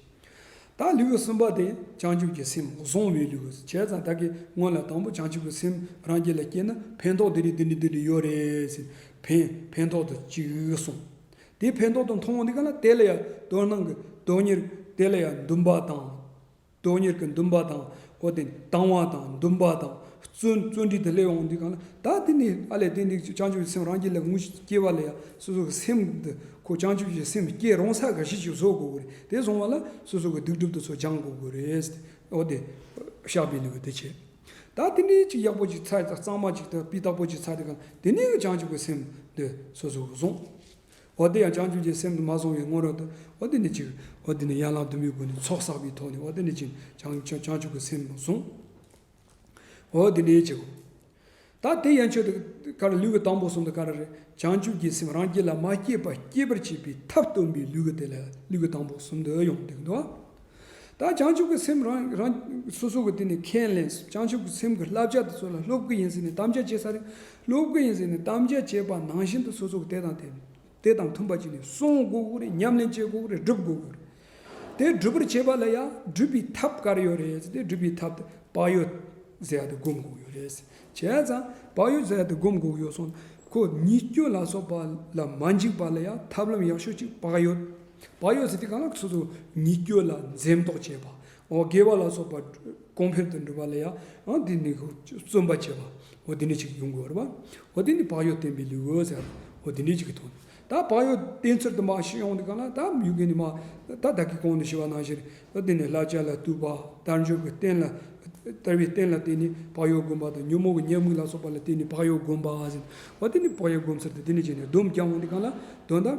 བདག་ལུས་སེམས་བ་དན་བྱང་ཆུབ་ཀྱི་སེམས་བཟུང་བའི་ལུས་བྱས་ཙང་བདག་གིས་སྔོན་ལ་དང་པོ་བྱང་ཆུབ་ཀྱི་སེམས་རང་རྒྱལ་ལ་སྐྱེས་ན་ཕན་ཐོགས་འདི་རེད་འདི་འདྲ་འདི་འདྲ་ཡོད་རེད་ཟེར་ཕན་ཕན་ཐོགས་དང་ཅིག་གསུང། དེ་ཕན་ཐོགས་དང་མཐོང་བ་འདི་ག་ལ་དེ་ལ་ཡང་དོན་སྣང་གི་དོན་གཉེར་དེ་ལ་ཡང་འདུན་པ་དང་དོན་གཉེར་གྱི་འདུན་པ་དང་ཨོ་དེ་དང་བ་དང་འདུན་པ་དང་བརྩོན་བརྩོན་འགྲུས་དང་སླད་འོང་འདི་གང་ལ་ད་དེ་ནི་ཨ་ལས་དེ་འདི་བྱང་ཆུབ་ཀྱི་སེམས་རང་རྒྱུད་ལ་ངུ་སྐྱེ་བ་ལ་ཡང་སོ་སོ་གི་སེམས་འདི་ཁོ་བྱང་ཆུབ་ཀྱི་སེམས་སྐྱེ་རུང་ས་ག་ཤེད་ཅིག་བཟོ་དགོས་དགོས་རེད་དེ་བཟུང་བ་ལ་སོ་སོ་གི་སྡིག་སྒྲུབ་དུ་ཚོ་སྦྱང་དགོས་དགོས་རེད་ཨོ་དེ་བཤགས་པའི་ལུས་དེ་བྱས་ད་དེ་ནི་ཅིག་ཡག་པོ་ཅིག་ཚ་གཙང་མ་ཅིག་ཏུ་སྤི་སྟག་པོ་ཅིག་ཚ་དེ་གང་ལ་དེ་ནི་བྱང་ཆུབ་ཀྱི་སེམས་འདི་སོ་སོ་གི་བཟུང། འོ་དེ་ཡང་བྱང་ཆུབ་ཀྱི་སེམས་དུ་མ་སོང་བའི་སྔོན་རོལ་དུ་འོ་དེ་ནས་གཅིག་འོ་དེ་ནས་ཡན་ལག་དུ་མའི་སྒོ་ནས་ཚོགས་བསགས་པའི་ཐོག་ནས་འོ་དེ་ནས་གཅིག་བྱང་ཆུབ་ཀྱི་སེམས་དུ་སོང་འོ་དེ་ནས་གཅིག་ད་དེ་ཡན་ཆོད་དུ་ཀ་ར་ལུས་ཀྱི་དང་པོ་གསུམ་དུ་ཀ་ར་རེ་བྱང་ཆུབ་ཀྱི་སེམས་རང་རྒྱུད་ལ་མ་སྐྱེས་པ་སྐྱེད་པར་བྱེད་པའི་ཐབས་སྟོན་པའི་ལུས་ཀྱི་དེ་ལ་ལུས་ཀྱི་དང་པོ་གསུམ་དུ་ཡང་དེ་འདུ་བ། ད་བྱང་ཆུབ་ཀྱི་སེམས་རང་རང་སོ་སོ་གི་དེ་ནས་ཁས་ལེན་བྱང་ཆུབ་ཀྱི་སེམས་ཀྱི་བསླབ་བྱ་དེ་ཚོ་ལ་སློབ་ཀྱི་ཡིན་ཟེར་ནས་དམ་བཅའ་བྱེད་ས་རེད་སློབ་ཀྱི་ཡིན་ཟེར་ནས་དམ་བཅའ་བྱས་པ་ནང་བཞིན་དུ་སོ་སོ་གི་དེ་དང་དེ་དེ་དང་མཐུན་པ་བྱས་ནས་གསུང་དགོས་ཀྱི་རེད་ཉམས་ལེན་བྱེད་དགོས་ཀྱི་རེད་སྒྲུབ་དགོས་ཀྱི་རེད་དེ་སྒྲུབ་པར་བྱེད་པ་ལ་ཡང་སྒྲུབ་པའི་ཐབས་དཀར་ཡོད་རེད་ཟེར་ཏེ་སྒྲུབ་པའི་ཐབས་དེ་བག་ཡོད་ཟས་དེ་བསྒོམ་དགོས་ཡོད་རེད་བྱས་ཙང་བག་ཡོད་ཟས་དེ་བསྒོམ་དགོས་ཀྱི་ཡོད་སོང་ཁོ་ཉིད་སྐྱོན་ལ་སོགས་པ་ལ་མ་འཇིགས་པ་ལ་ཡང་ཐབས་ལམ་ཡག་ཤོས་གཅིག་བག་ཡོད། བ་ཡོད་ཚེ་དེ་གང་ལ་སོ་སོ་ཉིད་སྐྱོ་ལ་འཛེམ་དོགས་བྱེད་པ། དགེ་བ་ལ་སོགས་པ་གོང་འཕེལ་དུ་འགྲོ་བ་ལ་ཡང་དེ་ནི་བརྩོན་པ་བྱེད་པ། དེ་འདྲའི་ཆེད་ཀྱི་ཡོང་དགོས་ར་བ། དེ་ནི་བག་ཡོད་བསྟེན་པའི་ལེའུའོ་ཟེར་ར་བ། དེ་འདྲའི་ཆེད་ཀྱི་དོན་ད་བག་ཡོད་བསྟེན་ཚུལ་དུ་མ་ཞིག་ཡོང་དེ་གང་ལ་ད་མྱུ་གུ་ནི་མ་ད་བདག་གིས་གོང་དུ་ཞུས་པ་ནང་བཞིན་དེ་ནི་བསླབ་བྱ་ལ་གཏུགས་པ་དལ་འབྱོར་གྱི་བསྟེན་ལ་དལ་བའི་བསྟེན་ལ་བརྟེན་ནས་བག་ཡོད་སྒོམ་པ་དང་ཉོན་མོངས་པའི་ཉེས་དམིགས་ལ་སོགས་པ་ལ་བརྟེན་ནས་བག་ཡོད་སྒོམ་པ། དེ་ནི་བག་ཡོད་སྒོམ་ཚུལ་དུ་དེ་ནི་བྱས་ནས་སྡོམ་བསྐྱང་བ་འདི་གང་ལ་དོན་དམ་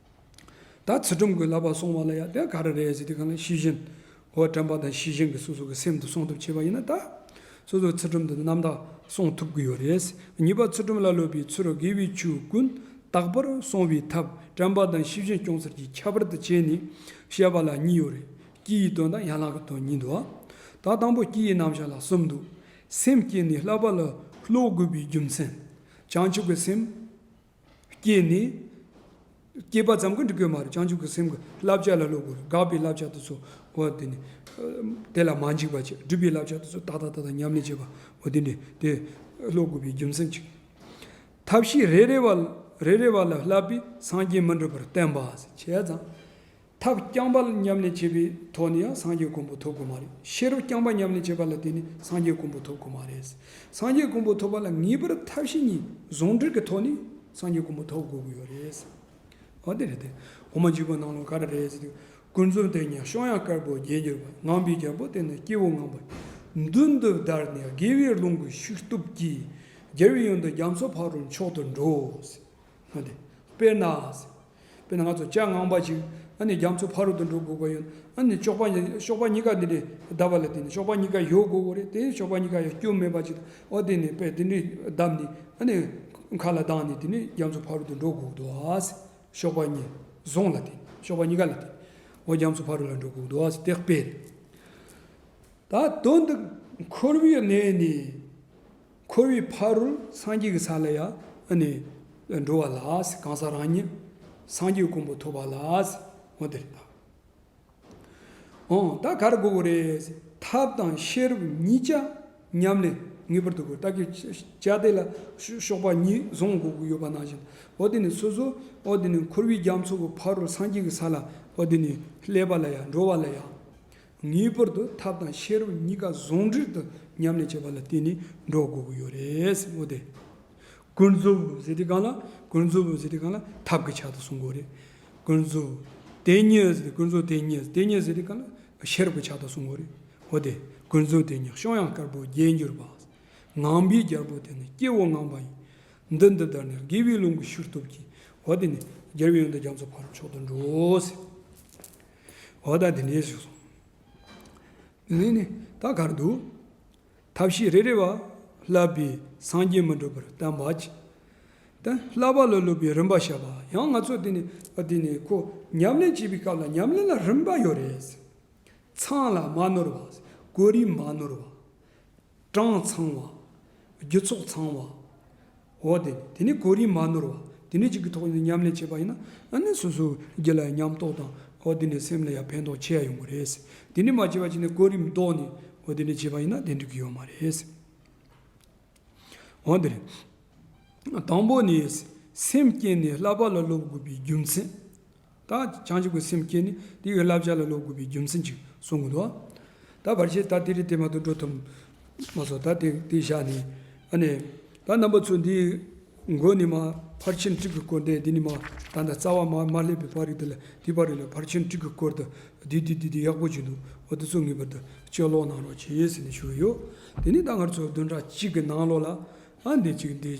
ད་ཚིག་སྒྲོམ་གྱི་བསླབ་པ་སོང་བ་ལ་ཡང་དེ་ག་རེ་རེད་ཟེར་དུས་གང་ལ་ཤེས་བཞིན་ཧོ་དྲན་པ་དང་ཤེས་བཞིན་གྱི་སོ་སོ་གྱི་སེམས་དུ་སོང་ཐབས་བྱས་པ་ཡིན་ན་ད་སོ་སོའི་ཚིག་སྒྲོམ་དུ་རྣམ་དག་སོང་ཐུབ་ཀྱི་ཡོད་རེད། གཉིས་པ་ཚིག་སྒྲོམ་ལ་སློབ་པའི་ཚུལ་དགེ་བའི་ཆོས་ཀུན་རྟག་པར་སོང་བའི་ཐབས་དྲན་པ་དང་ཤེས་བཞིན་སྐྱོང་གསར་གྱི་ཁྱད་པར་དུ་བྱས་ནས་བཤད་པ་ལ་གཉིས་ཡོད་རེད། སྐྱི་ཡི་དོན་དང་ཡན་ལག་གི་དོན་གཉིས་འདུག་ཨ། ད་དང་པོ་སྐྱི་ཡི་རྣམ་གཞག་ལ་གསུམ་འདུག། སེམས་བསྐྱེད་ནས་བསླབ་པ་ལ་སློབ་དགོས་པའི་རྒྱུ་མཚན། བྱང་ཆུབ་ཀྱི་སེམས། སྐྱེས་ནས། སྐྱེས་པ་ཙམ་གྱིས་འགྲིག་གི་མ་རེད་བྱང་ཆུབ་ཀྱི་སེམས་ཀྱི་བསླབ་བྱ་ལ་སློབ་དགོས་རེད་དགག་པའི་བསླབ་བྱ་དེ་ཚོ་འོ་དེ་ནས་དེ་ལ་མ་འཇིགས་པ་བྱེད་སྒྲུབ་པའི་བསླབ་བྱ་དེ་ཚོ་ཏག་ཏག་ཏག་ཏག་ཉམས་ལེན་བྱེད་པ་འོ་དེ་འདྲས་དེ་སློབ་དགོས་པའི་རྒྱུ་མཚན་གཅིག། ཐབས་ཤེས་རེ་རེ་བ་རེ་རེ་བ་ལ་བསླབ་པས་སངས་རྒྱས་མི་འགྲུབ་པར་བསྟན་པ། བྱས་ཙང། ཐབས་རྐྱང་པ་ཉམས་ལེན་བྱེད་པའི་ཐོག་ནས་ཡང་སངས་རྒྱས་ཀུན་པོ་ཐོབ་དགོས་མ་རེད། ཤེས་རབ་རྐྱང་པ་ཉམས་ལེན་བྱེད་པ་ལ་བརྟེན་ནས་སངས་རྒྱས་ཀུན་པོ་ཐོབ་དགོས་མ་རེད། སངས་རྒྱས་ཀུན་པོ་ཐོབ་པ་ལ་ངེས་པར་ཐབས་ཤེས་གཉིས་ཟུང་འབྲེལ་གྱི་ཐོག་ནས་སངས་རྒྱས་ཀུན་པོ་ཐོབ་དགོས་ཀྱི་ཡོད་རེད། འོ་དེ་རེད་དེ། འོ་མ་འཇིགས་པ་ནང་ལོགས་ག་རེ་རེད། ཀུན་རྫོབ་དེ་ཉིད་ཤོང་ཡང་དཀར་པོ་རྒྱན་གྱུར་པ་ངང་པའི་རྒྱལ་པོ་དེ་ནི་སྐྱེ་བོ་ངང་པ། མདུན་དུ་བདར་ནས་དགེ་བའི་རླུང་གི་ཤུགས་སྟོབས་ཀྱིས། རྒྱལ་བའི་ཡོན་དུ་རྒྱ་མཚོ་ཕག་རོའི་མཆོག་ཏུ་འགྲོ། དཔེར་ན། དཔེར་ན་ང་ཚོ་ལྕགས་ངང་པ་ཅིག་ཨ་ནི་རྒྱ་མཚོ་ཕ་རོལ་ཏུ་འགྲོ་དགོས་པ་ཡོད་ན་ཨ་ནི་གཤོག་པ་གཤོག་པ་གཉིས་ཀ་འདི་འདྲའི་བརྡབ་པ་ལས་དེ་ནི་གཤོག་པ་གཉིས་ཀ་གཡོག་དགོས་དགོས་རེད་དེ་གཤོག་པ་གཉིས་ཀ་ཡང་སྐྱུར་མེད་པ་ཅིག་ཨོ་དེ་ནི་དཔེ་དེ་འདྲའི་བརྡབ་ནི་ཨ་ནི་མཁའ་ལ་ལྡང་ནས་དེ་ནི་རྒྱ་མཚོ་ཕ་རོལ་ཏུ་འགྲོ་དགོས་དགོས་དོ་གཤོག་པ་གཉིས་བཟུང་ལ་དེ་གཤོག་པ་གཉིས་ཀ་ལ་དེ་ཨོ་རྒྱ་མཚོ་ཕ་རོལ་ལ་འགྲོ་དགོས་དགོས་དོ་དེ་དཔེ་རེད། ད་དོན་དུ་འཁོར་བའི་གནས་ནི་འཁོར་བའི་ཕ་རོལ་སངས་རྒྱས་ཀྱི་ས་ལ་ཡང་ནི་འགྲོ་བ་ལགས་གང་ཟག་རང་ཉིད་སངས་རྒྱས་ཀུན་པོ་ཐོབ་པ་ལགས། འོ་དེ་ལྟ་བ་འང་ད་གར་དགོས་པོ་རེད། ཐབས་དང་ཤེས་རབ་གཉིས་ཆ་མཉམ་ལས་ངེས་པར་དུ་དགོས་བདག་གིས་བཅའ་སྡེ་ལ་གཤོག་པ་གཉིས་བཟུང་དགོས་ཀྱི་ཡོད་པ་ནང་བཞིན་འོ་དེ་ནི་སོ་སོ་འོ་དེ་ནི་འཁོར་བའི་རྒྱ་མཚོ་གི་ཕ་རོལ་སངས་རྒྱས་ཀྱི་ས་ལ་འོ་དེ་ནི་ཀླད་པ་ལ་ཡང་འགྲོ་བ་ལ་ཡང། ངེས་པར་དུ་ཐབས་དང་ཤེས་རབ་གཉིས་ཀ་ཟུང་འབྲེལ་དུ་མཉམ་ལས་བྱེད་པ་ལ་བརྟེན་ནས་འགྲོ་དགོས་ཀྱི་ཡོད་རེད་སེམས་དེ། ཀུན་རྫོབ་ཟེར་དུས་གང་ལ་ཀུན་རྫོབ་ཟེར་དུས་གང་ལ་ཐབས་ཀྱི་ཆ་དུ་གསུངས་དགོས་རེད། ཀུན་རྫོབ་དེ་སྙེད་ཟེར་དུས་ཀུན་རྫོབ་དེ་སྙེད་དེ་སྙེད་ཟེར་དུས་གང་ལ་ཤེས་རབ་ཀྱི་ཆ་དུ་གསུངས་དགོས་རེད། འོ་དེ་ཀུན་རྫོབ་དེ་སྙེད་བཤང་ཡང་དཀར་པོ་རྒྱས་འགྱུར་བ། ངང་པའི་རྒྱལ་པོ་དེ་ནི་སྐྱེ་བོ་ངང་པ་ཡིན། འདི་འདི་ལྟར་ནི་དགེ་བའི་ལུང་གི་ཤུར་སྟོབས་ཀྱིས་འོ་དེ་ནི་རྒྱལ་བའི་ཡོན་ཏན་རྒྱ་མཚོ་འཕར་བའི་མཆོག་ཏུ་འགྲོའོ། འོ་ད་དེ་འདྲའི་ཞིག་སོང། དེ་ནས་ནི་ད་གར་འདུག། ཐབས་ཤེས་རེ་རེ་བ་བསླབས་པས་སངས་རྒྱས་མི་འགྲུབ་པར་བསྟན་པ་ཅི། ད་བསླབ་པ་ལ་སློབ་པའི་རིམ་པ་བཤད་པ་ཡང་ང་ཚོ་དེ་ནས་བ་དེ་ནས་ཁོ་ཉམས་ལེན་བྱེད་པའི་སྐབས་ལ་ཉམས་ལེན་ལ་རིམ་པ་ཡོད་རེད། ཚང་ལ་མ་ནོར་བ། གོ་རིམ་མ་ནོར་བ། གྲངས་ཚང་བ། རྒྱུ་ཚོགས་ཚང་བ། འོ་དེ་དེ་ནི་གོ་རིམ་མ་ནོར་བ་དེ་ནི་གཅིག་གི་ཐོག་ནས་ཉམས་ལེན་བྱས་པ་ཡིན་ན་ནི་སོ་སོ་སྒེར་ལ་ཡང་ཉམས་རྟོགས་དང་འོ་དེ་ནི་སེམས་ལ་ཡང་ཕན་ཐོགས་ཆེ་ཡང་ཡོང་གི་རེད། དེ་ནི་མ་བྱས་པ་ཅིག་ནས་གོ་རིམ་བཟློག་ནས་འོ་དེ་ནི་བྱས་པ་ཡིན་ན་དེ་འགྲིག་གི་ཡོད་མ་རེད། འོ་དེ་རེད། དང་པོ་ནི། སེམས་བསྐྱེད་ནས་བསླབ་པ་ལ་སློབ་དགོས་པའི་རྒྱུ་མཚན། བདག་བྱང་ཆུབ་ཀྱི་སེམས་བསྐྱེད་ནས་དེའི་བསླབ་བྱ་ལ་ལོག་དགོས་པའི་རྒྱུ་མཚན་ཅིག་གསུང་གི་འདུག་ད་བར་ཆད་ད་དེ་རི་དེ་མ་ཏོག་འགྲོ་ཐུབ། མ་སོགས་ད་དེ་དེ་བཞག་ནས། ཨ་ནི། ད་རྣམ་པ་ཚོ་འདིའི། མགོ་ནི་མ། ཕར་ཕྱིན་དྲུག་གི་སྐོར་འདས་འདི་ནི་མ། ད་ལྟ་རྩ་བ་མ་མ་སླེབས་པའི་བར་རིགས་དེ་ལ་དེའི་བར་རིགས་ལ་ཕར་ཕྱིན་དྲུག་གི་སྐོར་དུ། དེ་དེ་དེ་དེ་ཡག་པོ་བྱས་འདུག་འོ་དེ་ཚོ་ངེས་པར་དུ་དཔྱད་ཀློག་གནང་རོགས་བྱས་ཟེར་ནས་ཞུ་གི་ཡོད། དེ་ནས་ད་སྔར་ཚོ་བདུན་ཕྲག་གཅིག་གི་ནང་ལོགས་ལ། ཨ་འདི་གཅིག་འདི།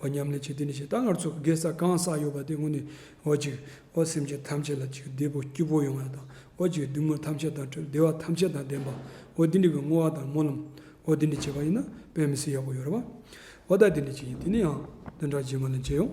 འོ་ཉམས་ལས་བྱེད་དེ་ནི་ཞེ་སྡང་ངར་ཚུགས་ཀྱི་གེ་སར་གང་བསགས་ཡོད་པ་དེ་སྔོན་ནས་འོ་ཅིག། འོ་སེམས་ཅན་ཐམས་ཅད་ལ་ཅིག་བདེ་པོ་སྐྱིད་པོ་ཡོང་བ་དང་འོ་ཅིག་བདུད་མོ་ཐམས་ཅད་དང་བྲལ་བདེ་བ་ཐམས་ཅད་དང་ལྡན་པ་འོ་དེ་འདྲི་གི་བསྔོ་བ་དང་སྨོན་ལམ་འོ་དེ་འདྲི་བྱེད་པ་ཡིན་ན་དཔེ་མི་སྲིད་ཡག་པོ་ཡོད་རེད་བ་འོ་ད་དེ་འདྲི་བྱེད་ཀྱི་དེ་ནི་ཡང་བདུན་ཕྲག་རྗེས་མ་ལས་མཇལ་ཡོང།